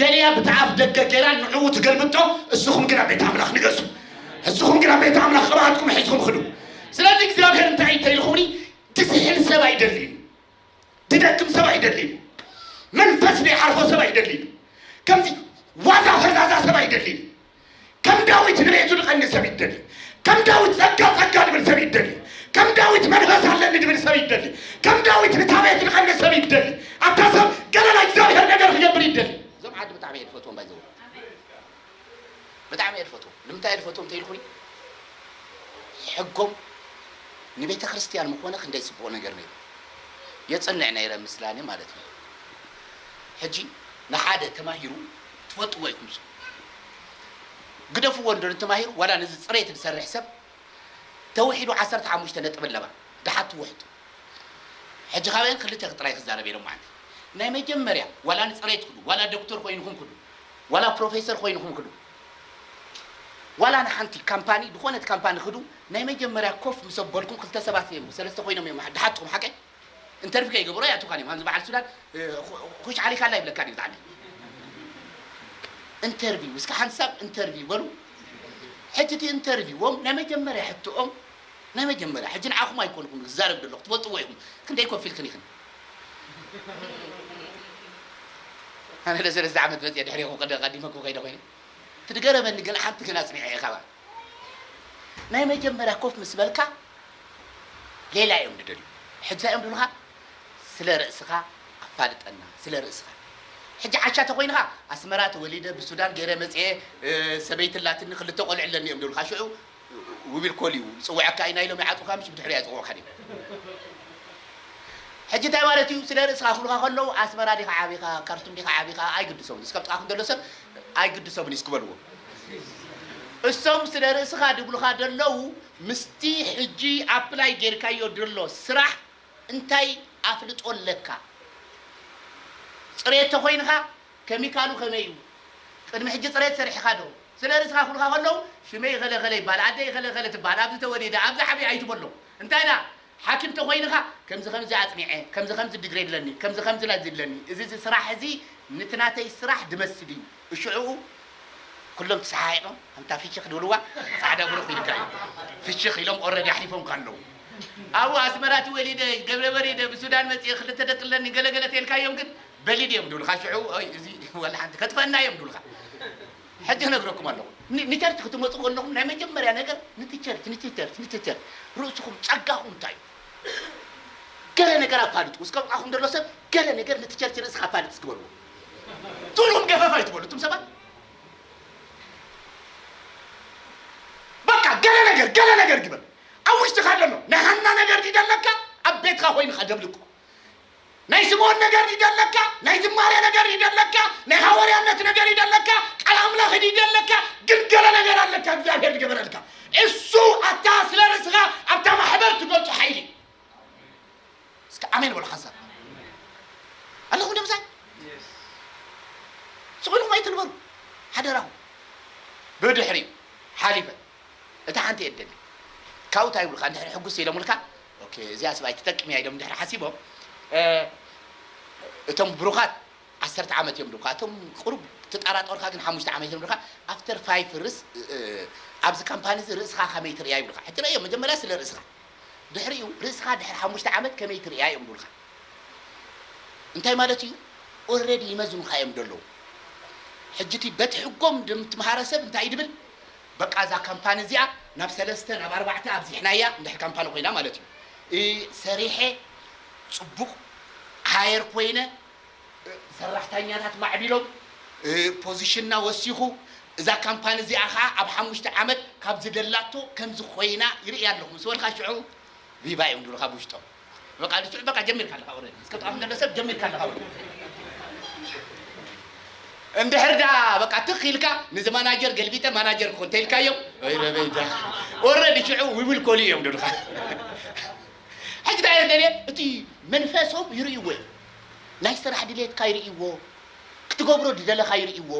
ደልያ ብቲ ኣፍ ደገ ገይራ ንዕኡ ትገልብጦ እስኹም ግን ኣብ ቤት ኣምላኽ ንገሱ እስኹም ግን ኣብ ቤት ኣምላኽ ቅብኣትኩም ሒዝኩም ኽዱ ስለዚ እግዚኣብሔር እንታይ እዩ ተይልኹኒ ትስሕል ሰብ ኣይደልዩ ትደክም ሰብ ኣይደልዩ መንፈስ ዘይሓርፎ ሰብ ኣይደልዩ ከምዚ ዋዛ ፈዛዛ ሰብ ኣይደልዩ ከም ዳዊት ንቤቱ ድቐኒ ሰብ ይደሊ ከም ዳዊት ጸጋ ጸጋ ድብል ሰብ ይደሊ ከም ዳዊት መንፈስ ኣለኒ ድብል ሰብ ይደሊ ከም ዳዊት ንታ ቤት ድቐኒ ሰብ ይደሊ ኣታ ሰብ ገለ ናይ እግዚኣብሔር ነገር ክገብር ይደሊ እዞም ዓዲ ብጣዕሚ እየ ድፈትዎም ባይዘው ብጣዕሚ እየ ድፈትዎም ንምንታይ እየ ድፈትዎም እንተይልኩኒ ሕጎም ንቤተ ክርስቲያን ምኾነ ክንደይ ጽቡቕ ነገር ነይሩ የጽንዕ ነይረ ምስላኒ ማለት እዩ ሕጂ ንሓደ ተማሂሩ ትፈልጥዎ ኢኩም እሱ ግደፍዎ እንድሪ ተማሂሩ ዋላ ነዚ ጽሬት ዝሰርሕ ሰብ ተውሒዱ ዓሰርተ ሓሙሽተ ነጥቢ ኣለዋ ድሓ ትውሕጥ ሕጂ ካበየን ክልተ ጥራይ ክዛረብ እየ ሎማዓንቲ ናይ መጀመርያ ዋላ ንጽሬት ክዱ ዋላ ዶክተር ኮይንኩም ክዱ ዋላ ፕሮፌሰር ኮይንኩም ክዱ ዋላ ንሓንቲ ካምፓኒ ድኮነት ካምፓኒ ክዱ ናይ መጀመርያ ኮፍ ምስ ኣበልኩም ክልተ ሰባት እዮም ሰለስተ ኮይኖም እዮም ድሓትኩም ሓቀይ እንተርፊ ከይገበሩ ኣይኣቱካን እዮም ከምዚ በዓል ሱዳን ኩሽ ዓሊካ ኣላ ይብለካ ድዩ ዛዓቢ እንተርቪው እስከ ሓንሳብ እንተርቪው በሉ ሕጂ እቲ እንተርቪዎም ናይ መጀመርያ ሕቶኦም ናይ መጀመርያ ሕጂ ንዓኹም ኣይኮንኹም ዝዛረብ ደለኹ ትፈልጥዎ ኢኹም ክንደይ ኮፊልክን ኢኽን ኣነ ለሰለስተ ዓመት መፅየ ድሕሪኹም ቀዲመኩም ከይደ ኮይነ ትድገረመኒ ግን ሓንቲ ግን ኣፅኒዐ እየ ካባኣ ናይ መጀመርያ ኮፍ ምስ በልካ ሌላ እዮም ድደልዩ ሕጂ ታይ እዮም ድብሉካ ስለ ርእስካ ኣፋልጠና ስለ ርእስካ ሕጂ ዓሻ ተኮይንካ ኣስመራ ተወሊደ ብሱዳን ገይረ መጽየ ሰበይቲ ኣላትኒ ክልተ ቆልዑ ኣለኒ እዮም ድብሉካ ሽዑ ውቢል ኮል እዩ ዝጽውዐካ እዩ ናይ ሎሚ ይዓጽውካ ምሽ ብድሕሪኡ ኣይጽውዕካን እዮም ሕጂ ታይ ማለት እዩ ስለ ርእስካ ክብሉካ ከለው ኣስመራ ዲካ ዓቢካ ካርቱም ዲካ ዓቢካ ኣይግድሶምን ዝስከም ጥቃኩም ዘሎ ሰብ ኣይግድሶምን'ዩ እስኪ በልዎ። እሶም ስለ ርእስኻ ድብሉኻ ደለዉ ምስቲ ሕጂ ኣፕላይ ጌርካዮ ድሎ ስራሕ እንታይ ኣፍልጦ ኣለካ? ጽሬት ተኾይንኻ ከሚካሉ ከመይ'ዩ? ቅድሚ ሕጂ ጽሬት ሰርሕኻ ዶ? ስለ ርእስኻ ክብሉኻ ከለዉ ሽመይ እኸለ እኸለ ይብሃል፣ ኣደይ እኸለ እኸለ ትብሃል፣ ኣብዚ ተወሊደ፣ ኣብዚ ዓብየ ኣይትበሎም። እንታይ ደኣ? ሓኪም ተኾይንኻ ከምዚ ከምዚ ኣጽኒዐ ከምዚ ከምዚ ድግሬ ኣለኒ ከምዚ ከምዚ ላይት ዝድለኒ እዚ እዚ ስራሕ እዚ ንቲ ናተይ ስራሕ ድመስል እዩ እሽዑኡ ኩሎም ትሰሓሒቆም ኣንታ ፍሽኽ ድብልዋ ጻዕዳ ብሩኽ ኢልካ እዩ ፍሽኽ ኢሎም ኦረዲ ኣሕሊፎምካ ኣለዉ ኣብኡ ኣስመራ ትወሊደ ገብረ በሪደ ብሱዳን መጽኤ ክልተ ደቂ ኣለኒ ገለ ገለ ተልካዮም ግን በሊድ እዮም ድብልካ ሽዑኡ ኦይ እዚ ወላ ሓንቲ ከጥፈእና እዮም ድብልካ ሕጂ ክነግረኩም ኣለኹ። ን ንቸርች ክትመጹ ከለኹም ናይ መጀመርያ ነገር ንቲ ቸርች ንቲ ቸርች ንቲ ቸርች ርእስኹም ጸጋኹም እንታይ እዩ ገለ ነገር ኣፋልጡ እስከ ኣብዓኹም ደሎ ሰብ ገለ ነገር ንቲ ቸርች ርእስኻ ኣፋልጥ እስኪ በልዎ ትብሉኹም ገፈፍ ኣይትበሉ እቱም ሰባት በቃ ገለ ነገር ገለ ነገር ግበር ኣብ ውሽጥኻ ደሎ ናይ ሃና ነገር ድዩ ደለካ ኣብ ቤትካ ኮይንኻ ደብልቆ ናይ ስምኦን ነገር ድዩ ደለካ ናይ ዝማሬ ነገር ድዩ ደለካ ናይ ሃወርያነት ነገር ድዩ ደለካ ቃል ኣምላኽ ድዩ ደለካ ግን ገለ ነገር ኣለካ እግዚኣብሔር ዝገበረልካ እሱ ኣታ ስለ ርእስኻ ኣብታ ማሕበር ትገልጾ ሓይሊ እስከ ኣሜን በሉ ሓንሳብ ኣለኹም ዶ ምሳይ ስቑኢልኩም ኣይትንበሩ ሓደራኹም ብድሕሪ ሓሊፈ እታ ሓንቲ እየ ደሊ ካብኡ እንታይ ይብሉካ እንድሕሪ ሕጉስ ኢሎምልካ ኦኬ እዚኣ ስብ ኣይትጠቅም እያ ኢሎም ድሕሪ ሓሲቦም እቶም ብሩኻት ዓሰርተ ዓመት እዮም ድካ እቶም ቁሩብ ትጣራጦርካ ግን ሓሙሽተ ዓመት እዮም ድካ ኣፍተር ፋይፍ ርስ ኣብዚ ካምፓኒ እዚ ርእስካ ከመይ ትርእያ ይብልካ ሕቲ ረእዮ መጀመርያ ስለ ርእስካ ድሕሪኡ ርእስካ ድሕሪ ሓሙሽተ ዓመት ከመይ ትርእያ እዮም ድብልካ እንታይ ማለት እዩ ኦረዲ ይመዝኑካ እዮም ደለዉ ሕጂ እቲ በቲ ሕጎም ድምትምሃረ ሰብ እንታይ እዩ ድብል በቃ እዛ ካምፓኒ እዚኣ ናብ ሰለስተ ናብ ኣርባዕተ ኣብዚሕናያ እንድሕር ካምፓኒ ኮይና ማለት እዩ እ ሰሪሐ ፅቡቕ ሃየር ኮይነ እ ሰራሕታኛታት ማዕቢሎም እ ፖዚሽንና ወሲኹ እዛ ካምፓኒ እዚኣ ከዓ ኣብ ሓሙሽተ ዓመት ካብ ዝደላቶ ከምዚ ኮይና ይርእያ ኣለኹ ምስ በልካ ሽዑ ቪቫ እዮም ዝብሉኻ ብውሽጦም በቃ ልስዑ በቃ ጀሚርካ ኣለኻ ኦረዲ እስከ ጥቓኹም ዘሎ ሰብ ጀሚርካ ኣለኻ ወዲ እንድሕር ደኣ በቃ ትኽ ኢልካ ንዚ ማናጀር ገልቢጠ ማናጀር ክኾን ተኢልካዮም ረበይ ዳ ኦረዲ ሽዑ ዊብል ኮሊ እዮም ድልኻ ሕጂ እንታይ ደልየ እቲ መንፈሶም ይርእይዎ እዮም ናይ ስራሕ ድሌትካ ይርእይዎ ክትገብሮ ዝደለኻ ይርእይዎ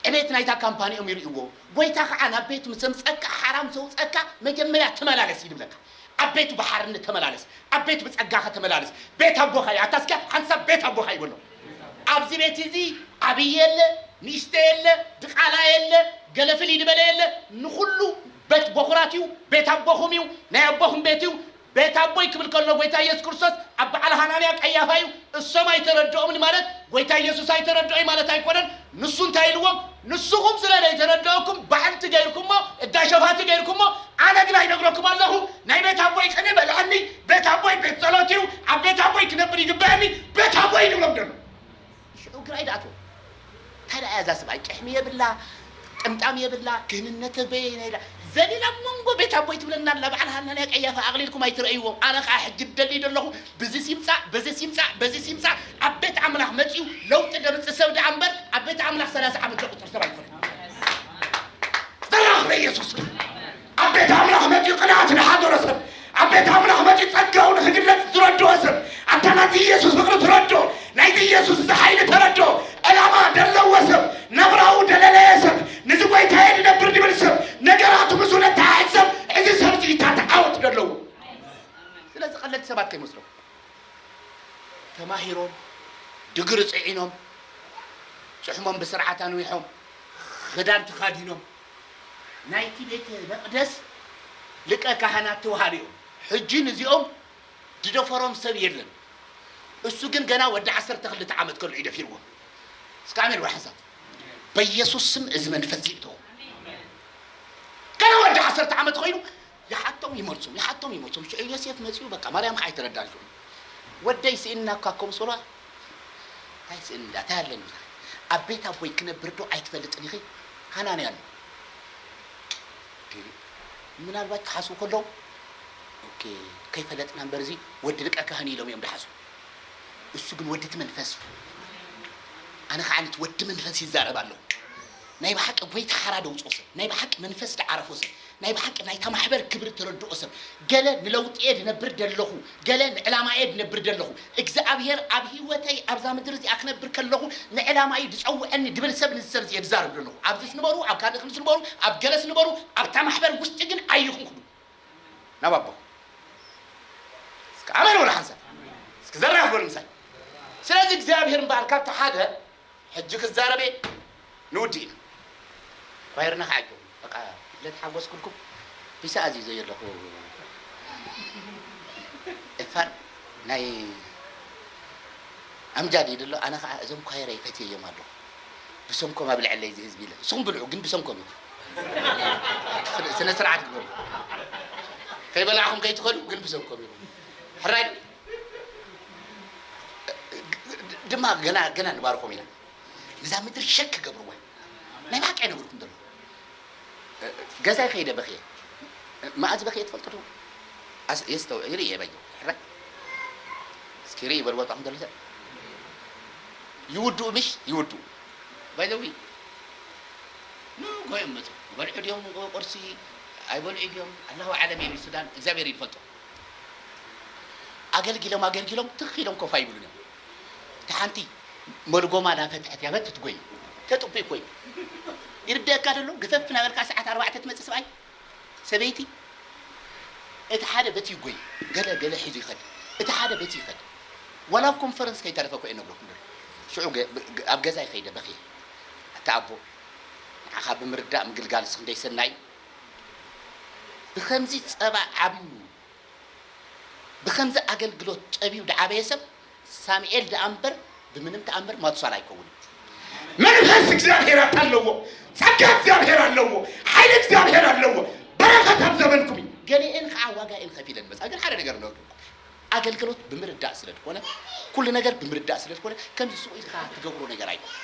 ዕቤት ናይታ ካምፓኒ እዮም ይርእይዎ ጎይታ ከዓ ናብ ቤት ምስ ዘምፀካ ሓራም ዘውፀካ መጀመርያ ተመላለስ ይድብለካ ኣብ ቤቱ ብሓርነት ተመላለስ፣ ኣብ ቤቱ ብጸጋኸ ተመላለስ፣ ቤት ኣቦኻ እዩ፣ ኣታ እስከ ሓንቲ ሳብ ቤት ኣቦኻ እዩ በሎ። ኣብዚ ቤት እዚ ዓብዪ የለ፣ ንእሽተ የለ፣ ድቓላ የለ፣ ገለ ፍልይ ልበለ የለ፣ ንኹሉ በት ቦኹራት እዩ፣ ቤት ኣቦኹም እዩ፣ ናይ ኣቦኹም ቤት እዩ፣ ቤት ኣቦይ ክብል ከሎ ጎይታ ኢየሱስ ክርስቶስ ኣብ በዓል ሃናንያ ቀያፋ እዩ፣ እሶም ኣይተረድኦምን ማለት ጎይታ ኢየሱስ ኣይተረድኦይ ማለት ኣይኮነን፣ ንሱ እንታይ ኢልዎም ንስኹም ስለ ዘይተረደኣኩም ባሕንቲ ገይርኩሞ እዳ ሸፋቲ ገይርኩሞ ኣነ ግና ይነግረኩም ኣለኹ ናይ ቤት ኣቦይ ቅኔ በልዐኒ ቤት ኣቦይ ቤት ጸሎት እዩ ኣብ ቤት ኣቦይ ክነብር ይግበኣኒ ቤት ኣቦይ ንብሎም ደሎ ሽዑ ግራ ይድኣትዎም እንታይ ደኣ እዛ ስብኣይ ጭሕሚ የብላ ጥምጣም የብላ ክህንነተ በየናይ ደኣ ዘሊላ መንጎ ቤት ኣቦይ ትብለና ኣላ በዓል ሃናንያ ቀያፋ ኣቕሊልኩም ኣይትረእይዎም ኣነ ከዓ ሕጂ ደልይ ደለኹ ብዚስ ይምጻእ በዚስ ይምጻእ በዚስ ይምጻእ ኣብ ቤት ኣምላኽ መጺኡ ለውጢ ደምጽእ ሰብ ደኣ እምበር ኣብ ቤት ኣምላኽ ሰላሳ ዓመት ዘቁጽር ሰብ ኣይኮነን ዝተራኽበ ኢየሱስ እዩ ኣብ ቤት ኣምላኽ መጺኡ ቅንኣት ንሓደሮ ሰብ ኣብ ቤት ኣምላኽ መጺኡ ጸጋኡ ንክግለጽ ዝረድኦ ሰብ ኣታ ናቲ ኢየሱስ ፍቕሪ ትረድኦ ናይቲ ኢየሱስ እዚ ሓይሊ ተረድኦ ዕላማ ደለዎ ሰብ ናብራኡ ደለለየ ሰብ ንዚ ጐይታየ ድነብር ድብል ሰብ ነገራቱ ምስኡ ነተሓሕዝ ሰብ እዚ ሰብዚ እዩ እታ ተዓወት ደለዎ ስለዚ ቀለልቲ ሰባት ከይመስለኩም ተማሂሮም ድግሪ ጽዒኖም ጭሕሞም ብስርዓት ኣንዊሖም ክዳን ተኻዲኖም ናይቲ ቤተ መቅደስ ልቀ ካህናት ተዋሃሉ እዮም ሕጂ ንዚኦም ድደፈሮም ሰብ የለን እሱ ግን ገና ወዲ ዓሰርተ ክልተ ዓመት ከሉ እዩ ደፊርዎ እስከ ኣሜን ወይ ሓንሳብ በኢየሱስ ስም እዚ መንፈስ ይእቶ ገና ወዲ ዓሰርተ ዓመት ኮይኑ ይሓቶም ይመልሶም ይሓቶም ይመልሶም ሽዑ ዮሴፍ መጺኡ በቃ ማርያም ከዓ ኣይተረዳን ሽዑ ወደይ ስእንና እኳ ከም ሶሏ እንታይ ስእን እዳ እንታይ ኣለኒ ኢኻ ኣብ ቤት ኣቦይ ክነብር ዶ ኣይትፈልጥን ኢኺ ሃናንያ ኣሎ ምናልባት ክሓስቡ ከለዉ ኦኬ ከይፈለጥና እምበር እዚ ወዲ ሊቀ ካህን ኢሎም እዮም ድሓስቡ እሱ ግን ወዲ እቲ መንፈስ እዩ ኣነ ከዓ ነቲ ወዲ መንፈስ ይዛረብ ኣለኹ ናይ ብሓቂ ጎይታ ሓራ ደውፅኦ ሰብ ናይ ብሓቂ መንፈስ ድዓረፎ ሰብ ናይ ብሓቂ ናይታ ማሕበር ክብሪ እተረድኦ ሰብ፣ ገለ ንለውጢ'የ ዝነብር ዘለኹ፣ ገለ ንዕላማ'የ ዝነብር ዘለኹ፣ እግዝኣብሄር ኣብ ህይወተይ ኣብዛ ምድሪ እዚኣ ክነብር ከለኹ ንዕላማ'ዩ ዝጸውዐኒ ዝብል ሰብ ነዚ ሰብ እዚ እየ ዝዛረብ ዘለኹ። ኣብዚስ ንበሩ፣ ኣብ ካልእ ክልስ ንበሩ፣ ኣብ ገለስ ንበሩ፣ ኣብታ ማሕበር ውሽጢ ግን ኣይኢኹም ክዱ ናብ ኣቦኹም። እስከ ኣሜን በሉ ሓንሳብ። እስኪ ዘራፍ በሉ ምሳይ። ስለዚ እግዚኣብሄር እምበኣር ካብቲ ሓደ ሕጂ ክዛረብ እየ ንውዲእና ኳየርና ክዓ ጀምሩ በቃ ልደት ሓጎስ ክብልኩም ፒሳ ኣዚዘ እየ ኣለኩ ኤፋር ናይ ኣምጃድ ኢሉ ኣሎ ኣነ ክዓ እዞም ኳየረይ ፈትየዮም ኣለኩ ብሰንኮም ኣብልዐለይ እዚ ህዝቢ ኢለ ንስኩም ብልዑ ግን ብሰንኮም ኢኩም ስነ ስርዓት ግበሩ ከይበላዕኩም ከይትከዱ ግን ብሰንኮም ኢኩም ሕራይ ድማ ገና ገና ንባርኮም ኢና ንዛ ምድሪ ሸክ ክገብርዋ ናይ ብሓቂ ኣይነግርኩም ዘሎ ገዛይ ከይደ በክየ መኣዝ በክየ ትፈልጡ ዶ የስተው ይርኢ እየ በየ ሕራይ እስኪ ርኢ በልዎ ጥዑም ዘሎ ሰብ ይውድኡ ምሽ ይውድኡ ባይዘዊ ንጎዮም መፁ ይበልዑ ድዮም ቁርሲ ኣይበልዑ ድዮም ኣላሁ ዓለም እየ ሱዳን እግዚኣብሔር ይፈልጦ ኣገልጊሎም ኣገልጊሎም ትኽ ኢሎም ኮፍ ኣይብሉን እዮም። እታ ሓንቲ መልጎማ ናፈትሐት ያበትት ጎይ ተጥቡይ ኮይ ይርደኣካ ዶ ኣሎ ግፈፍ ናበልካ ሰዓት ኣርባዕተ ትመጽእ ስብኣይ ሰበይቲ እቲ ሓደ በቲ ይጎይ ገለ ገለ ሒዙ ይኸድ እቲ ሓደ በቲ ይኸድ ዋላ ኣብ ኮንፈረንስ ከይተረፈ ኮ እየ ነግረኩም ደሎ ሽዑ ኣብ ገዛይ ከይደ በኽየ ኣታ ኣቦ ንዓኻ ብምርዳእ ምግልጋልስ ክንደይ ሰናይ እዩ ብኸምዚ ጸባ ዓብዩ ብኸምዚ ኣገልግሎት ጸብዩ ድዓበየ ሰብ ሳሚኤል ድኣ እምበር ብምንም ተኣምር ማቱሳላ ኣይከውንን። መንፈስ እግዚኣብሔር ኣታለዎ ጸጋ እግዚኣብሔር ኣለዎ ሓይሊ እግዚኣብሔር ኣለዎ በረኸት ኣብ ዘበንኩም እዩ። ገሌኤን ኸዓ ዋጋኤን ኸፊለን መጻ ግን ሓደ ነገር ንገርኩም ኣገልገሎት ብምርዳእ ስለ ድኮነ ኩሉ ነገር ብምርዳእ ስለ ድኮነ ከምዚ ሱቅ ኢልካ ትገብሮ ነገር ኣይኮነን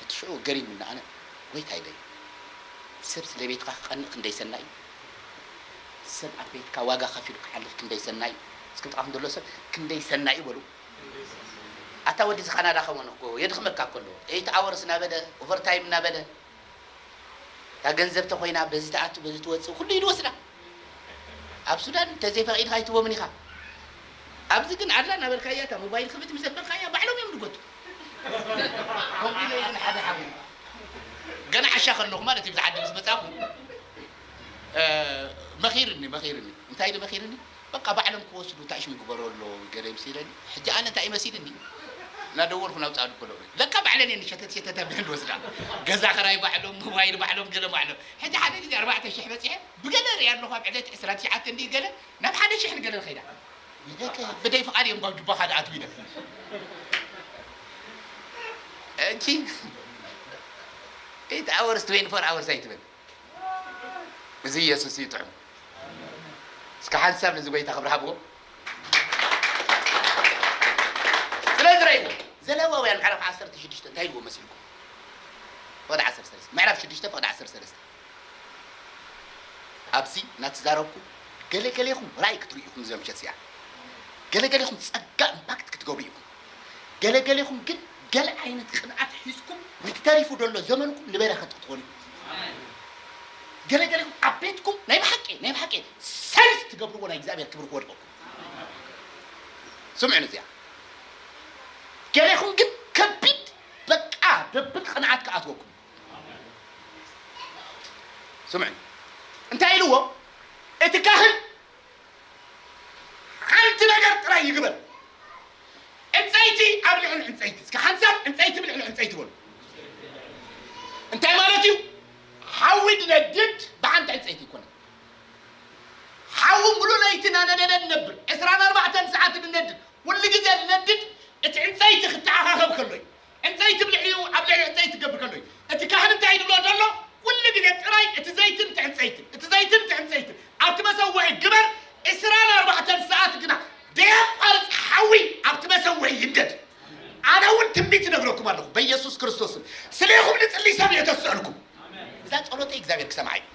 እቲ ሽዑ ገሪሙኒ ኣነ ጎይታይ ደይ ሰብ ስለ ቤትካ ክቀንእ ክንደይ ሰናይ እዩ ሰብ ኣብ ቤትካ ዋጋ ከፊሉ ክሓልፍ ክንደይ ሰናይ እዩ እስኪ ጥቃኩም ዘሎ ሰብ ክንደይ ሰናይ እዩ በሉ ኣታ ወዲ እዚ ካናዳ ከመን እኮ የድክመካ እኮ ኣሎ ኤይት ኣወርስ እናበለ ኦቨርታይም እናበለ እታ ገንዘብ ተኾይና በዚ ትኣቱ በዚ ትወፅእ ኩሉ ኢድ ወስዳ ኣብ ሱዳን እንተዘይፈቂድካ ኣይትቦምን ኢኻ ኣብዚ ግን ኣላ እናበልካያ እታ ሞባይል ክፍት ምስ ኣበልካያ ባዕሎም እዮም ድጎቱ ከምኡ ኢለ ይብል ሓደ ሓው ገና ዓሻ ከለኹ ማለት እዩ ብዚ ዓዲ ምስ መፃኹ መኺርኒ መኺርኒ እንታይ ኢሉ መኺርኒ በቃ ባዕሎም ክወስዱ ታይ ሽም ግበረሎ ገለ ይምሲለኒ ሕጂ ኣነ ታይ እዩ መሲልኒ ናደወልኩ ናብ ፃዱ ከለኩ ለካ ባዕለን እየን ሸተት ሸተት ኣቢለን ዝወስዳ ገዛ ክራይ ባዕሎም ሞባይል ባዕሎም ገለ ባዕሎም ሕጂ ሓደ ግዜ ኣርባዕተ ሽሕ በፂሐ ብገለ ሪኣ ኣለኩ ኣብ ዕለት ዕስራ ትሽዓተ እንድዩ ገለ ናብ ሓደ ሽሕ ንገለ ንከይዳ ኢለከ ብደይ ፍቃድ እየን ብ ጁባ ካደ ኣትው ኢለን ሕጂ ኤይት ኣወርስ ትዌንቲ ፎር ኣወርስ ኣይትበል እዚ ኢየሱስ እዩ ጥዑም እስከ ሓንቲ ሰብ ነዚ ጎይታ ክብሪ ሃብዎ ስለዚ ረእይዎ ዘለዋውያን ምዕራፍ ዓሰርተ ሽዱሽተ እንታይ ኢልዎ መሲልኩም ፍቕዲ ዓሰርተ ሰለስተ ምዕራፍ ሽዱሽተ ፍቕዲ ዓሰርተ ሰለስተ ኣብዚ እናተዛረብኩ ገለገሌኹም ራእይ ክትርእዩ ኢኹም እዚኣ ምሸት እዚኣ ገለገሌኹም ጸጋ ኢምፓክት ክትገብሩ ኢኹም ገለ ገሌኹም ግን ገለ ዓይነት ቅንኣት ሒዝኩም ንቲ ተሪፉ ደሎ ዘመንኩም ንበረኸት ክትኾኑ ኢኹም። ገለ ገሌኹም ኣብ ቤትኩም ናይ ብሓቂ ናይ ብሓቂ ሰንስ ትገብርዎ ናይ እግዚኣብሔር ክብሪ ክወድቀኩም ስምዑኒ እዚኣ ገሌኹም ግን ከቢድ በቃ ደብል ቅንኣት ክኣትወኩም ስምዑኒ እንታይ ኢልዎ እቲ ካህን ሓንቲ ነገር ጥራይ ይግበር ዕንጸይቲ ኣብ ልዕሊ ዕንጸይቲ እስከ ሓንሳብ ዕንጸይቲ ብልዕሊ ዕንጸይቲ በሉ እንታይ ማለት እዩ ሓዊ ድነድድ ብሓንቲ ዕንጸይቲ ይኮነ ሓዊ ሙሉ ለይቲ ናነደደ ንነብር ዕስራን ኣርባዕተን ሰዓት ንነድድ ኩሉ ግዜ ንነድድ እቲ ዕንጸይቲ ክተዓኻኸብ ከሎ እዩ ዕንጸይቲ ብልዕሊኡ ኣብ ልዕሊ ዕጸይቲ ክገብር ከሎ እዩ። እቲ ካህን እንታይ እዩ ዝብሎ ዘሎ? ኩሉ ግዜ ጥራይ እቲ ዘይትን እቲ ዕንጸይትን፣ እቲ ዘይትን እቲ ዕንጸይትን ኣብቲ መሰውኢ ግበር፣ ዕስራን ኣርባዕተን ሰዓት ግና ደየቋርጽ ሓዊ ኣብቲ መሰውኢ ይንደድ። ኣነ እውን ትንቢት እነግረኩም ኣለኹ፣ በኢየሱስ ክርስቶስ ስም ስሌኹም ዝጽልይ ሰብ እየ ዘስዕልኩም። እዛ ጸሎተይ እግዚኣብሔር ክሰምዓ እዩ።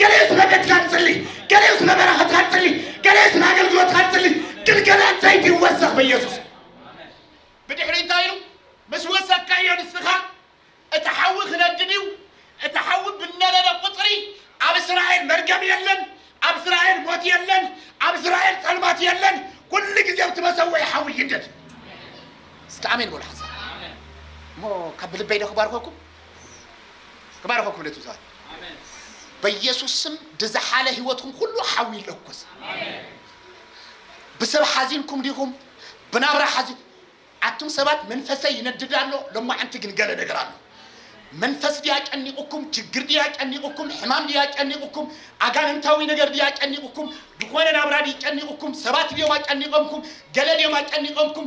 ገሊኡ ስለ ቤትካ ንጽሊ፣ ገሊኡ ስለ በረኸትካ ንጽሊ፣ ገሊኡ ስለ ኣገልግሎትካ ንጽሊ፣ ግን ገለ ዕንጸይቲ ይወሰኽ በኢየሱስ። ብድሕሪ እንታይ ኢሉ ምስ ወሰካዮ ንስኻ እቲ ሓዊ ክነድድ እዩ እቲ ሓዊ ብነደደ ቁፅሪ ኣብ እስራኤል መርገም የለን ኣብ እስራኤል ሞት የለን ኣብ እስራኤል ፀልማት የለን ኩሉ ግዜ ኣብቲ መሰወኢ ሓዊ ይንደድ እስኪ ኣሜን በሉ ሓሳብ እሞ ካብ ብልበይ ዶ ክባርኸኩም ክባረኸኩም ክብለት ብዙሃት በኢየሱስ ስም ድዝሓለ ህይወትኩም ኩሉ ሓዊ ይለኩስ ብሰብ ሓዚንኩም ዲኹም ብናብራ ሓዚ ኣቱም ሰባት መንፈሰይ ይነድድ ኣሎ ሎማዓንቲ ግን ገለ ነገር ኣሎ መንፈስ ድያ ጨኒቑኩም ችግር ድያ ጨኒቑኩም ሕማም ድያ ጨኒቑኩም ኣጋንንታዊ ነገር ድያ ጨኒቑኩም ዝኾነ ናብራ ድዩ ጨኒቑኩም ሰባት ድዮም ኣጨኒቐምኩም ገለ ድዮም ኣጨኒቐምኩም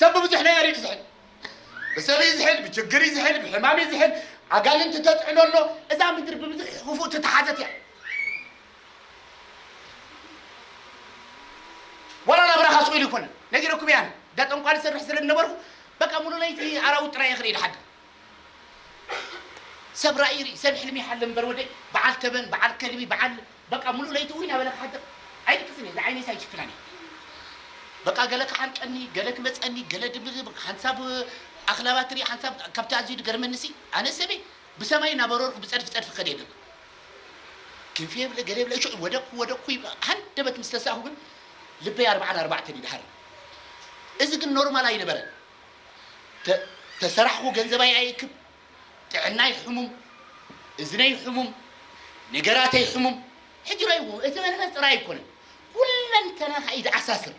ሰብ ብብዙሕ ነገር እዩ ክዝሕል ብሰብ እዩ ዝሕል ብችግር እዩ ዝሕል ብሕማም እዩ ዝሕል ኣጋንንቲ ተፅዕኖ ኣሎ እዛ ምድሪ ብብዙሕ ክፉእ ትተሓዘት እያ ወላ ናብራኻ ስቕ ኢሉ ይኮነ ነጊረኩም እያ እነ እንዳ ጠንቋሊ ዝሰርሕ ስለ ዝነበርኩ በቃ ሙሉ ለይቲ ኣራዊት ጥራይ እየ ክርኢ ድሓድር ሰብ ራኢ ይርኢ ሰብ ሕልሚ ይሓልም እምበር ወደይ በዓል ተበን በዓል ከልቢ በዓል በቃ ሙሉእ ለይቲ ውን ናበለ ክሓድር ኣይድቅስን እየ እዛ ዓይነይስ ኣይጭክናን እየ በቃ ገለ ክሓንቀኒ ገለ ክመጸኒ ገለ ድብርብር ሓንሳብ ኣኽላባት ትርኢ ሓንሳብ ካብቲ ኣዝዩ ድገርመኒሲ ኣነ ሰበይ ብሰማይ እናበረርኩ ብጸድፊ ጸድፊ ክኸድ እየ ደሎ ክንፊ የብለ ገለ የብለ ሽዑ ወደቅኩ ወደቅኩ ይብላ ሃንደበት ምስ ተሳእኩ ግን ልበይ ኣርብዓን ኣርባዕተን እዩ ድሃርም እዚ ግን ኖርማል ኣይነበረን ተ ተሰራሕኹ ገንዘባይ ኣይእክብ፣ ጥዕናይ ሕሙም፣ እዝነይ ሕሙም፣ ነገራተይ ሕሙም፣ ሕጂ ረእይዎ፣ እቲ መንፈስ ጥራይ ኣይኮነን፣ ኩለንተናኻ እዩ ዝኣሳስር።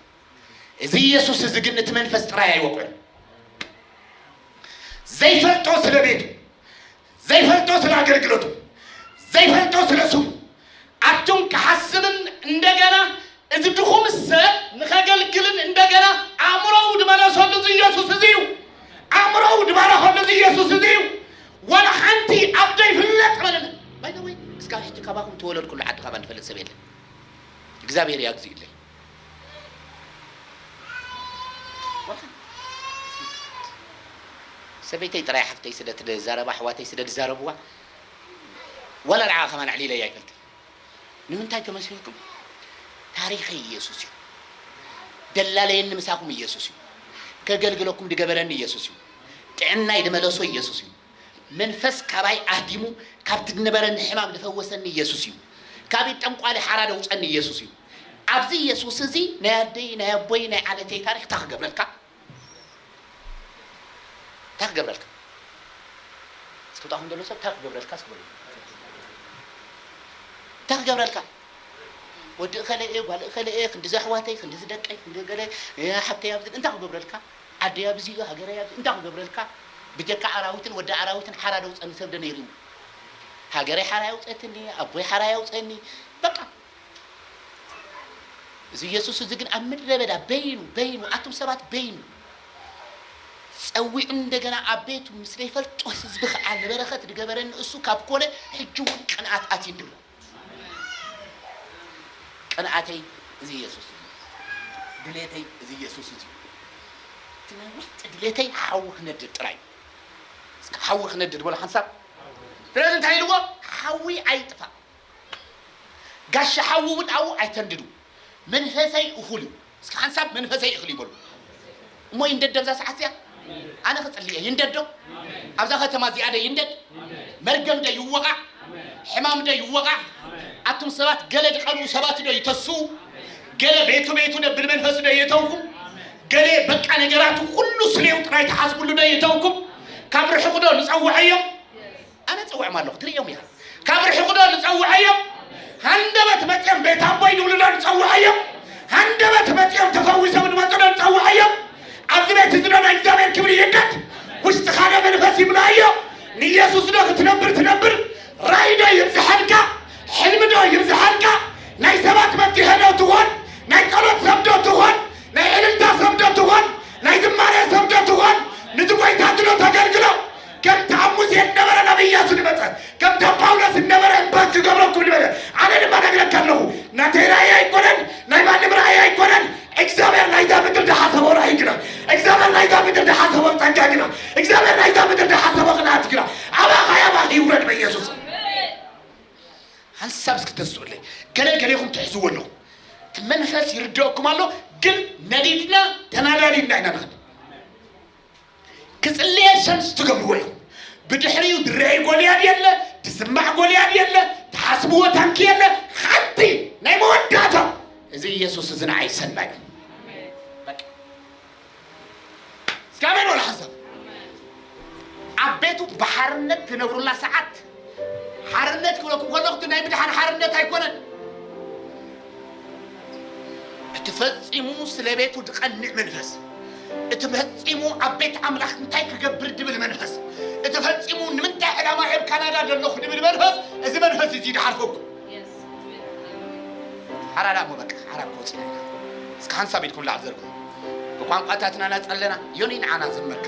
እዚ ኢየሱስ እዚ ግን እቲ መንፈስ ጥራይ ኣይወቅዕን። ዘይፈልጦ ስለ ቤቱ፣ ዘይፈልጦ ስለ ኣገልግሎቱ ዘይፈልጦ ስለ ስሙ ኣቱም ክሓስብን እንደገና እዚ ድኹም ሰብ ንኸገልግልን እንደገና ኣእምሮኡ ድመለሰሉ እዚ ኢየሱስ እዚ እዩ ኣእምሮኡ ድባረኸሉ እዚ ኢየሱስ እዚ እዩ ዋላ ሓንቲ ኣብ ዘይፍለጥ መለለ ባይደወይ እስካብ ሕጂ ካባኹም ተወለድኩሉ ዓዲ ካባ ንፈልጥ ሰብ የለን እግዚኣብሔር ያግዚእለይ ሰበይተይ ጥራይ ሓፍተይ ስለ ትዛረብ ኣሕዋተይ ስለ ዝዛረብዋ ዋላ ንዓኣ ከማን ኣዕሊለያ ኣይፈልጥን ንምንታይ ተመስልኩም ታሪኸይ ኢየሱስ እዩ ደላለየኒ ምሳኹም ኢየሱስ እዩ ከገልግለኩም ድገበረኒ ኢየሱስ እዩ ጥዕናይ ድመለሶ ኢየሱስ እዩ መንፈስ ካባይ ኣህዲሙ ካብቲ ድነበረኒ ሕማም ድፈወሰኒ ኢየሱስ እዩ ካብ ኢድ ጠንቋሊ ሓራ ደውጸኒ ኢየሱስ እዩ ኣብዚ ኢየሱስ እዚ ናይ ኣደይ ናይ ኣቦይ ናይ ዓሌተይ ታሪኽ ታይ ክገብረልካ ታይ ክገብረልካ ዝፍታኹም ዘሎ ሰብ ታይ ክገብረልካ እስኪ በሉ ታይ ክገብረልካ ወዲ እኸለ እየ ጓል እኸለ እየ ክንዲዚ ኣሕዋተይ ክንዲዚ ደቀይ ክንዲ ገለ ሓብተይ ኣብዚ እንታይ ክገብረልካ ዓደይ ኣብዚ ሃገረይ ኣብዚ እንታይ ክገብረልካ ብጀካ ኣራዊትን ወዲ ኣራዊትን ሓራ ደውጸኒ ሰብ ዶ ነይርዩ ሃገረይ ሓራ የውጸትኒ ኣቦይ ሓራ የውጸኒ በቃ እዚ የሱስ እዚ ግን ኣብ ምድረ በዳ በይኑ በይኑ ኣቱም ሰባት በይኑ ጸዊዑ እንደገና ኣብ ቤቱ ምስ ዘይፈልጦ ህዝቢ ከኣ ንበረኸት ዝገበረኒ እሱ ካብ ኮነ ሕጂ እውን ቅንኣት ኣትዩኒ ኣሎ ቅንኣተይ እዚ የሱስ እዩ ድሌተይ እዚ የሱስ እዚ እዩ እቲ ናይ ውሽጢ ድሌተይ ሓዊ ክነድድ ጥራይ እስከ ሓዊ ክነድድ በሎ ሓንሳብ ስለዚ እንታይ ኢልዎ ሓዊ ኣይጥፋእ ጋሻ ሓዊ እውን ኣብኡ ኣይተንድዱ መንፈሰይ እኹል እዩ። እስኪ ሓንሳብ መንፈሰይ እኽል እዩ በሉ። እሞ ይንደድ ኣብዛ ሰዓት እዚኣ ኣነ ክጽሊ እየ ይንደድ ዶ ኣብዛ ከተማ እዚኣ ደ ይንደድ መርገም ደ ይወቓዕ ሕማም ደ ይወቓዕ ኣቱም ሰባት ገለ ድቐልኡ ሰባት ዶ ይተስኡ ገለ ቤቱ ቤቱ ደ ብልመንፈሱ ዶ የተውኩም ገለ በቃ ነገራቱ ኩሉ ስሌው ጥራይ ተሓስብሉ ዶ የተውኩም ካብ ርሕቑ ዶ ንጸውዐዮም ኣነ እጸውዖም ኣለኹ ትርእዮም ኢኻ ካብ ርሕቑ ዶ ንጸውዐዮም ሃንደበት መጺኦም ቤት ኣቦይ ንብሉ ዶ ንጸውዐዮም ሃንደበት መጺኦም ተፈዊሶም ንመጹ ዶ ንጸውዐዮም ኣብዚ ቤት እዚ ዶ ናይ እግዚኣብሔር ክብሪ ይንደድ ውሽጥኻ ዶ መንፈስ ይምላእዮ ንኢየሱስ ዶ ክትነብር ትነብር ራእይ ዶ ይብዝሐልካ ሕልሚ ዶ ይብዝሐልካ ናይ ሰባት መፍትሐ ዶ ትኾን ናይ ጸሎት ሰብ ዶ ትኾን ናይ ዕልልታ ሰብ ዶ ትኾን ናይ ዝማሬ ሰብ ዶ ትኾን ንቲ ጎይታ ድሎ ተገልግሎ ከምቲ ኣብ ሙሴ እነበረ ናብ እያሱ ድመጸ ከምቲ ኣብ ጳውሎስ እነበረ እምበር ክገብረኩም ድበለ ኣነ ድማ ነግረካ ኣለኹ ናተይ ራእይ ኣይኮነን ናይ ማንም ራእይ ኣይኮነን እግዚኣብሔር ናይዛ ምድር ድሓሰቦ ራእይ ግና እግዚኣብሔር ናይዛ ምድር ድሓሰቦ ጸጋ ግና እግዚኣብሔር ናይዛ ምድር ድሓሰቦ ቅንኣት ግና ኣባኻ ኣባኺ ይውረድ በኢየሱስ ሓንሳብ እስኪ ተስኡለይ ገለ ገሌኹም ትሕዝዎ ኣለኹ እቲ መንፈስ ይርድኦኩም ኣሎ ግን ነዲድና ተናዳዲድና ኢና ንኸድ ክጽልየ ሰልስ ትገብርዎ ኢኹም ብድሕሪኡ ድረይ ጎልያድ የለ ትስማዕ ጎልያድ የለ ትሓስብዎ ታንኪ የለ ሓንቲ ናይ መወዳእታ እዚ ኢየሱስ እዚ ንዓይ ሰናይ እዩ። በቃ። እስኪ ኣሜን በሉ ሓሳብ ኣብ ቤቱ ብሓርነት ትነብሩላ ሰዓት ሓርነት ክብለኩም ከለኹ እቲ ናይ ምድሓን ሓርነት ኣይኮነን። እቲ ፈጺሙ ስለ ቤቱ ዝቐንዕ መንፈስ፣ እቲ ፈጺሙ ኣብ ቤት ኣምላኽ እንታይ ክገብር ድብል መንፈስ፣ እቲ ፈጺሙ ንምንታይ ዕላማ ኣብ ካናዳ ዘለኹ ድብል መንፈስ፣ እዚ መንፈስ እዚ ድሓርፈኩ ሓራዳ እሞ በቃ ሓራ ክወፅና ኢና። እስከ ሓንሳብ ኢድኩም ላዕል ዘርግሑ ብቋንቋታትና ናፀለና ዮኒ ንዓና ዘመርካ